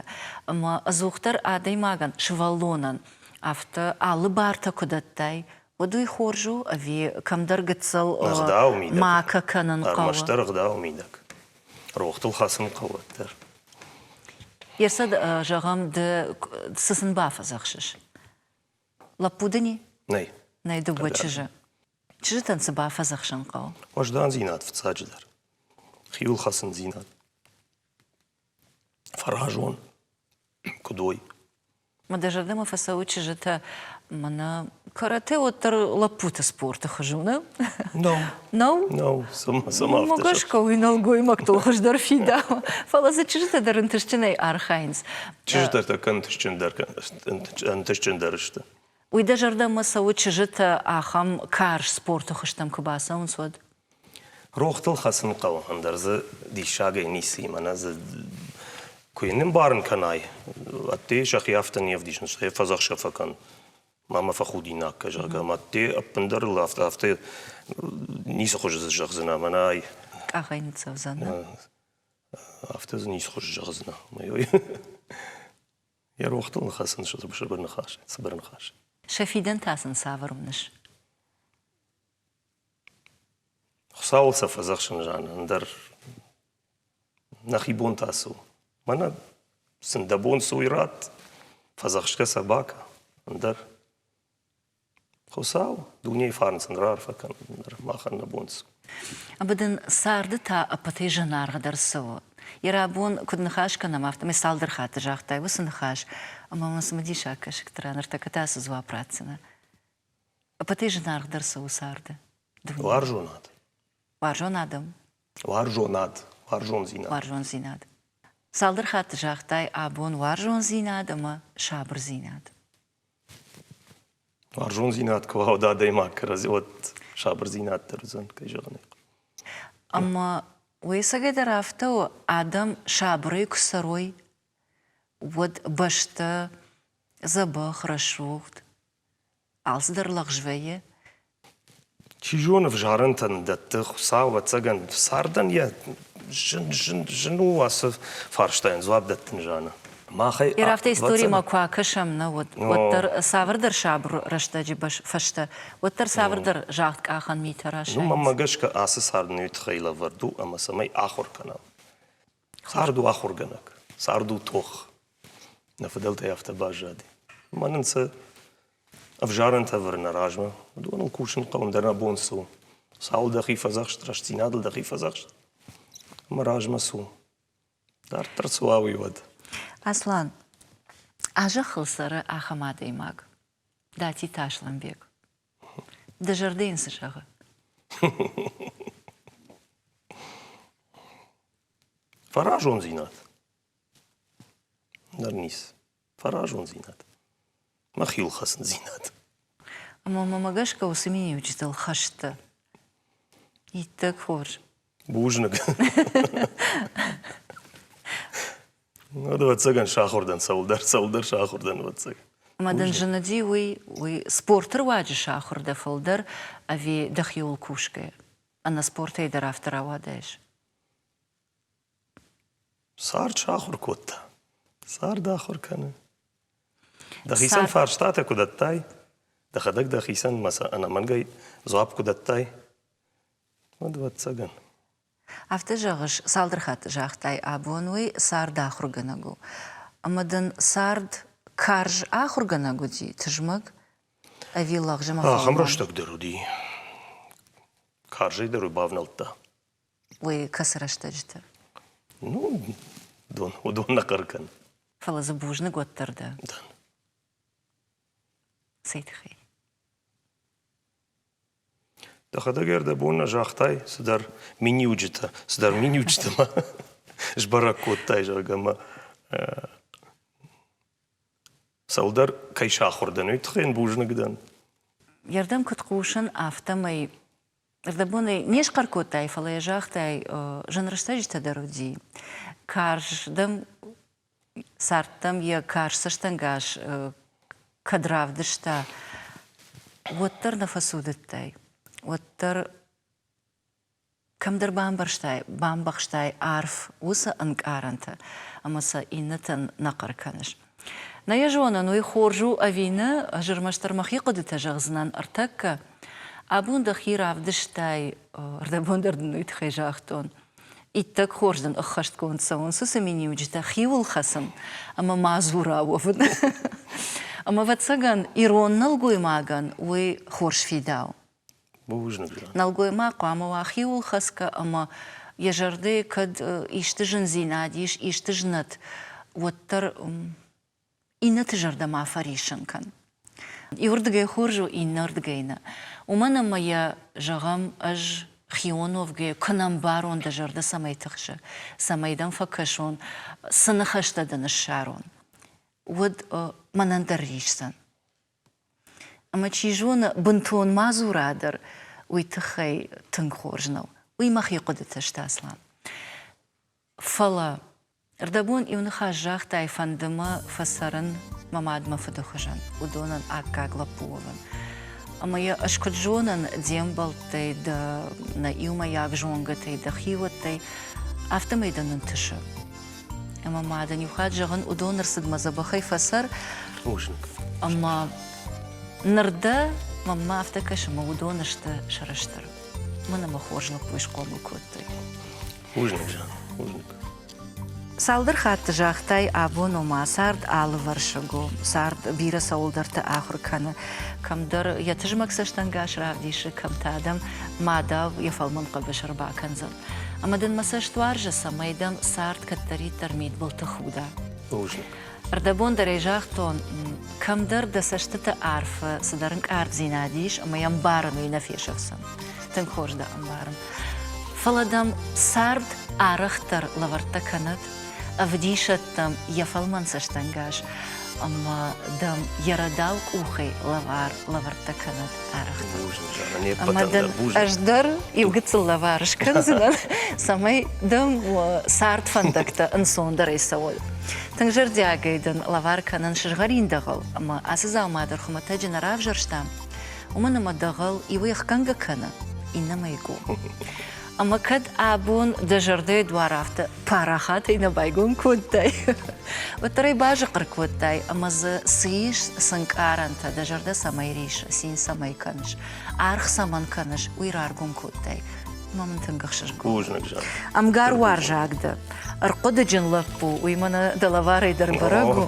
Ӕмӕ ӕдзухдӕр адӕймагӕн, сывӕллонӕн афтӕ алы бартӕ куы дӕттай, уӕд уый хорз у ӕви кӕмдӕр гыццыл макӕ кӕнын хъӕуы? Ӕрмӕстдӕр ӕгъдауы мидӕг. Рохтыл хӕцын хъӕуы дӕр. Йе рцыд, зӕгъӕм, ды цы сын бафӕдзӕхсыс? Лӕппу дын и? Нӕй. Нӕй дыууӕ чызджы. Чызджытӕн цы бафӕдзӕхсын хъӕуы? Уӕздандзинад фыццаджыдӕр. Хиуылхӕцындзинад. Фӕразон. Куыд уой. Мы дӕ зӕрдӕмӕ фӕцӕуы чызджытӕ мӕнӕ карате уӕддӕр лӕппуты спорты хуызы уыны? Нау. Нау? Нау, сама Могашка уый нӕлгоймӕгтыл хуыздӕр фидауы. Фӕлӕ дзы чызджытӕ дӕр ӕнтыстджынӕй архайынц. Чызджытӕ та кӕд ӕнтыстджындӕр ӕнтыстджындӕр сты? Уый дӕ зӕрдӕмӕ цӕуы чызджытӕ ахӕм карз спорты хуызтӕм куы бацӕуынц, уӕд? Рохтыл хӕцын хъӕуы, ӕндӕр дзы диссагӕй ницыимӕ нӕ дзы куы нымбарын кӕнай, ӕдде сӕхи афтӕ не вдисынц, стӕй фӕдзӕхсӕ фӕкӕн, ма мӕ фӕхудинаг кӕ, зӕгъгӕ, ӕмӕ ӕдде ӕппындӕр ыл афтӕ, афтӕ ницы хуызы дзы зӕгъдзынӕ, мӕнӕ ай. Къахӕй ныццӕудзӕн, нӕ? Афтӕ дзы ницы хуызы зӕгъдзынӕ, уымӕй. Йӕ рохтыл ныхӕсын сыбыр ныхас, цыбыр ныхас. Сӕ фидӕн та сын цавӕр уыныс? Хуыцауыл сӕ фӕдзӕхсын зӕгъын, ӕндӕр нӕхи бон та цы у? Мӕнӕ сын дӕ бон цы уый ратт, фӕдзӕхсгӕ сӕ бакӕ, ӕндӕр Хуыцау дунейы фарнцӕн раарфӕ кӕнын дӕр махӕн нӕ бон цы. Ӕмӕ дын царды та ӕппӕтӕй зынаргъдӕр цы у? Йӕ рӕбун куыд ныхас кӕнӕм, афтӕмӕй цалдӕр хатты загътай уыцы ныхас, ӕмӕ мын цымыдисаг кӕсыгты ран ӕртӕккӕ та цы дзуапп ратдзынӕ? Ӕппӕтӕй зынаргъдӕр цы у царды? Дуне? Уарзонад. Уарзон адӕм. Уарзонад. Уарзондзинад. Уарзондзинад. Цалдӕр хатты загътай абон уарзондзинад ӕмӕ сабырдзинад. Уарзондзинад куы уӕвӕд адӕймаг кӕрӕдзи, уӕд сабырдзинад дӕр уыдзӕн, кӕй зӕгъын ӕй хъуы. Ӕмӕ уыйсӕгӕйдӕр афтӕ у, адӕм сабырӕй куы цӕрой, уӕд бӕстӕ дзӕбӕх, рӕсугъд, алцыдӕр лӕгъз вӕййы, Чи зоны, взарӕнтӕн дӕтты Хуыцау, ӕвӕццӕгӕн, цардӕн йӕ зын, зын, зын у ацы фарстайӕн дзуапп дӕттын зӕгъы. Махӕй Йе рӕфтӕ историмӕ куы акӕсӕм нӕ уӕд, уӕддӕр цавӕрдӕр сабыр рӕстӕджы фӕстӕ, уӕддӕр цавӕрдӕр загъд къахӕн митӕ расайынц. Уымӕ гӕсгӕ ацы цард нӕуи тыххӕй лӕвӕрд у ӕмӕ цӕмӕй ахуыр кӕнӕм? Цард у ахуыргӕнӕг, цард у тох. Нӕ фыдӕлтӕй афтӕ баззади. Мӕнӕн сӕ ӕвзарӕнтӕ ӕвӕрын нӕ размӕ. Уыдоныл кусын хъӕуын дӕр нӕ бон цы у. Цауыл дӕхи фӕдзӕхст, рӕстдзинадыл дӕхи фӕдзӕхст. Мӕ размӕ цы у? Дарддӕр цы уа, уый уӕд. Аслан, а зӕххыл цӕры ахӕм адӕймаг, Дати Тасланбег. Дӕ зӕрдӕ йын цы зӕгъы? Фӕразондзинад. Ныр ниц. Фӕразондзинад. Мӕ хилхӕцындзинад. Ӕмӕ мӕм гӕсгӕ уыцы миниуджытыл хӕст дӕ. Иттӕг хорз. Бузныг. Уӕд, ӕвӕццӕгӕн, сахуыр дӕн цӕуылдӕр, цӕуылдӕр сахуыр дӕн, ӕвӕццӕг. Ӕмӕ дын зыныди уый, уый спорты руаджы сахуыр дӕ фылдӕр ӕви дӕхиуыл кусгӕ? Ӕнӕспортӕй дӕр афтӕ рауадаис? Цард сахуыр кодта. Цард ахуыр кӕны. Дӕхицӕн фарстатӕ куы дӕттай, дӕхӕдӕг дӕхицӕн ӕнӕмӕнгӕй дзуапп куы дӕттай, Уӕд, ӕвӕццӕгӕн. Афтӕ зӕгъыс, цалдӕр хатты загътай, абон уый цард ахуыргӕнӕг у. Ӕмӕ дын цард карз ахуыргӕнӕг уыди, тызмӕг ӕви лӕгъзымӕхъом? Ахӕм рӕстӕг дӕр уыди. Карзӕй дӕр уый бавнӕлдта. Уый кӕцы рӕстӕджыты? Ну, уыдон, уыдон нӕ хъӕр кӕн. Фӕлӕ дзы бузныг уӕддӕр дӕ. Дӕн. Цӕй тыххӕй? Дӕхӕдӕг ӕрдӕбон нӕ загътай цыдӕр миниуджытӕ, цыдӕр миниуджытӕ ма сбӕрӕг кодтай, зӕгъгӕ, ӕмӕ цӕуылдӕр кӕй сахуыр дӕн, уый тыххӕй йын бузныг дӕн. Йе рдӕм куыд хъусын, афтӕмӕй ӕрдӕбонӕй не схъӕр кодтай, фӕлӕ йӕ загътай, зын рӕстӕджытӕ дӕр уыди. Карз дӕм Цардтӕм йӕ карз цӕстӕнгас кӕд равдыста, уӕддӕр нӕ фӕцудыдтай, уӕддӕр кӕмдӕр бамбӕрстай, бамбӕхстай арф уыцы ӕнкъарӕнтӕ, ӕмӕ сӕ иннӕтӕн нӕ хъӕр кӕныс. Нӕ йӕ зонын, уый хорз у ӕви нӕ, ӕз ӕрмӕстдӕр мӕхи хъуыдытӕ зӕгъдзынӕн ӕртӕккӕ. Абон дӕхи равдыстай, ӕрдӕбон дӕр дын уый тыххӕй загътон. Иттӕг хорз дын ӕххӕстгонд цӕуынц уыцы миниуджытӕ хиуыл хӕцын ӕмӕ ма дзура уӕвын. Ӕмӕ, ӕвӕццӕгӕн, ирон нӕлгоймагӕн уый хорз фидау. Бузныг. Нӕлгоймаг хъуамӕ уа хиуыл хӕцгӕ ӕмӕ йӕ зӕрдӕйы кӕд исты зындзинад ис, исты знӕт, уӕддӕр иннӕты зӕрдӕмӕ фӕриссын кӕн. Иуырдыгӕй хорз у, иннӕрдыгӕй нӕ. Уымӕн ӕмӕ йӕ зӕгъӕм, ӕз хионовгӕ куы нӕ мбарон дӕ зӕрдӕ цӕмӕй тыхсы, цӕмӕй дӕм фӕкӕсон, цы ныхӕстӕ дын ссарон, уӕд мӕнӕн дӕр рисдзӕн. Ӕмӕ чи зоны, бынтон мадзура дӕр уый тыххӕй тынг хорз нӕу. Уый мӕхи хъуыдыты сты, Аслан. Фӕлӕ рдӕбон иу ныхас загътай фӕнды мӕ фӕцӕрын мӕ мад мӕ фыды хуызӕн уыдонӕн аккаг лӕппу уӕвын. Ӕмӕ йӕ ӕз куыд зонын де мбӕлттӕй, дӕ нӕ иумӕйаг зонгӕтӕй, дӕ хиуӕттӕй, афтӕмӕй дӕ нынтысы. Ӕмӕ мадӕн иу хатт зӕгъын, уыдон рцыдмӕ дзӕбӕхӕй фӕцӕр. Бузныг. Ӕмӕ ныр дӕ мӕнмӕ афтӕ кӕсы, мӕ уыдон сты сӕрыстыр. Мын ӕмӕ хорз лӕппуйы схъомыл кодтой. Бузныг, бузныг. Цалдӕр хатты загътай, абон у мӕ цард алывӕрсыг у. Цард бирӕ цӕуылдӕрты ахуыр кӕны. Кӕмдӕр йӕ тызмӕг цӕстӕнгас равдисы, кӕм та дӕм мадау йӕ фӕлмӕн хъӕбыс ӕрбакӕндзӕн. Ӕмӕ дын мӕ цӕст уарзы, цӕмӕй дӕм цард кӕддӕриддӕр мидбылты худа. Бузныг. Рдӕбон дӕр ӕй загътон, кӕмдӕр дӕ цӕстыты арфы цыдӕр ӕнкъарддзинад ис ӕмӕ йӕ ӕмбарын уый нӕ фесӕфдзӕн. Тынг хорз дӕ ӕмбарын. Фӕлӕ дӕм цард арӕхдӕр лӕвӕрттӕ кӕнӕд, ӕвдисӕд дӕм йӕ фӕлмӕн цӕстӕнгас ӕмӕ дӕм йӕ рӕдау къухӕй лӕвар лӕвӕрттӕ кӕнӕд. ӕмӕ дын ӕз дӕр иу гыццыл лӕвар скӕндзынӕн, цӕмӕй дӕм цард фӕндӕгтӕ ӕнцондӕрӕй цӕуой. Тынг зӕрдиагӕй дын лӕвар кӕнын сызгъӕрин дӕгъӕл, ӕмӕ ацы дзаума дӕр хуымӕтӕджы нӕ равзӕрстам, уымӕн ӕмӕ дӕгъӕл иуӕй ӕхгӕнгӕ кӕны, иннӕмӕй гу. Ӕмӕ кӕд абон дӕ зӕрдӕйы дуар афтӕ парахатӕй нӕ байгом кодтай, уӕддӕр ӕй базыхъхъыр кодтай, ӕмӕ дзы цы ис, цы нкъарӕнтӕ, дӕ зӕрдӕ цӕмӕй рисс, цин цӕмӕй кӕныс, аргъ цӕмӕн кӕныс, уый раргом кодтай. Ӕмӕ мын тынг ӕхсызгон. Бузныг зӕгъ. Ӕмгар уарзаг дӕ, ӕрхъуыдыджын лӕппу, уый мӕнӕ дӕ лӕварӕй дӕр бӕрӕг у.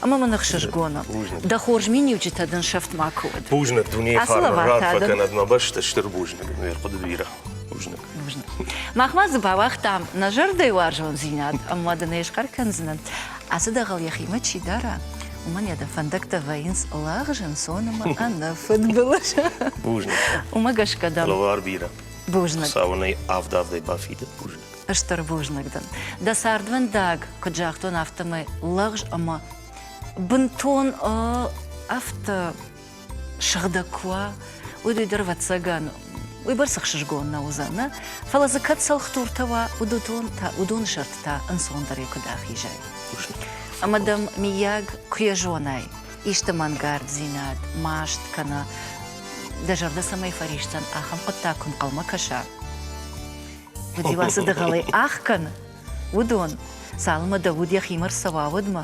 ӕмӕ мын ӕхсызгон у. Дӕ хорз миниуджытӕ дын сӕфт макуы уӕд. Бузныг дунейы фарныл рад фӕкӕнӕд мӕ бӕсты стыр бузныг, ме рхъуыды бирӕ. Бузныг. Бузныг. Мах ма дзы бауагътам нӕ зӕрдӕйы уарзондзинад ӕмӕ дын ӕй схъӕр кӕндзынӕн, ацы дӕгъӕл йӕхимӕ чи дара, уымӕн йӕ дӕ фӕндӕгтӕ вӕййынц лӕгъз ӕнцон ӕмӕ ӕнӕ фыдбылыз. Бузныг. Уымӕ гӕсгӕ дӕм. Лӕвар бирӕ. Бузныг. Цауынӕй авд-авдӕй бафидыд. Бузныг. стыр бузныг дын. Дӕ цардвӕндаг, куыд загътон, афтӕмӕй лӕгъз ӕмӕ бынтон афтӕ сыгъдӕг куы уа, уый дуй дӕр ӕвӕццӕгӕн уый бӕрц ӕхсызгон нӕ уыдзӕн, фӕлӕ дзы кӕд цӕлхдуртӕ уа, уыдон та уыдоны сӕрты та ӕнцондӕрӕй куыд ахизай. Ӕмӕ дӕм, миййаг, куы йӕ зонай, исты мӕнгарддзинад маст кӕна, дӕ зӕрдӕ цӕмӕй фӕрисдзӕн, ахӕм хъуыддаг куы нхъӕлмӕ кӕса, Дила цы дӕгъӕлӕй ӕхкӕны, уыдон, цалынмӕ дӕ уд йӕхимӕ рцӕуа, уӕдмӕ.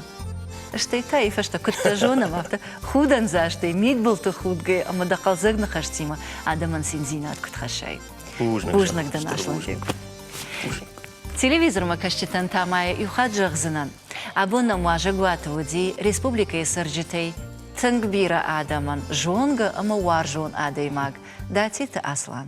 Стӕй та, йы фӕстӕ куыд дӕ зонӕм, афтӕ худӕндзастӕй, мидбылты худгӕйӕ ӕмӕ дӕ хъӕлдзӕг ныхӕстимӕ адӕмӕн циндзинад куыд хӕссай. Бузныг, бузныг дӕ наслӕнджик. Телевизормӕ кӕсджытӕн та ма йӕ иу хатт зӕгъдзынӕн, абон нӕм уазӕгуаты уыди республикӕйы цӕрджытӕй тынг бирӕ адӕмӕн зонгӕ ӕмӕ уарзон адӕймаг Датиты Аслан.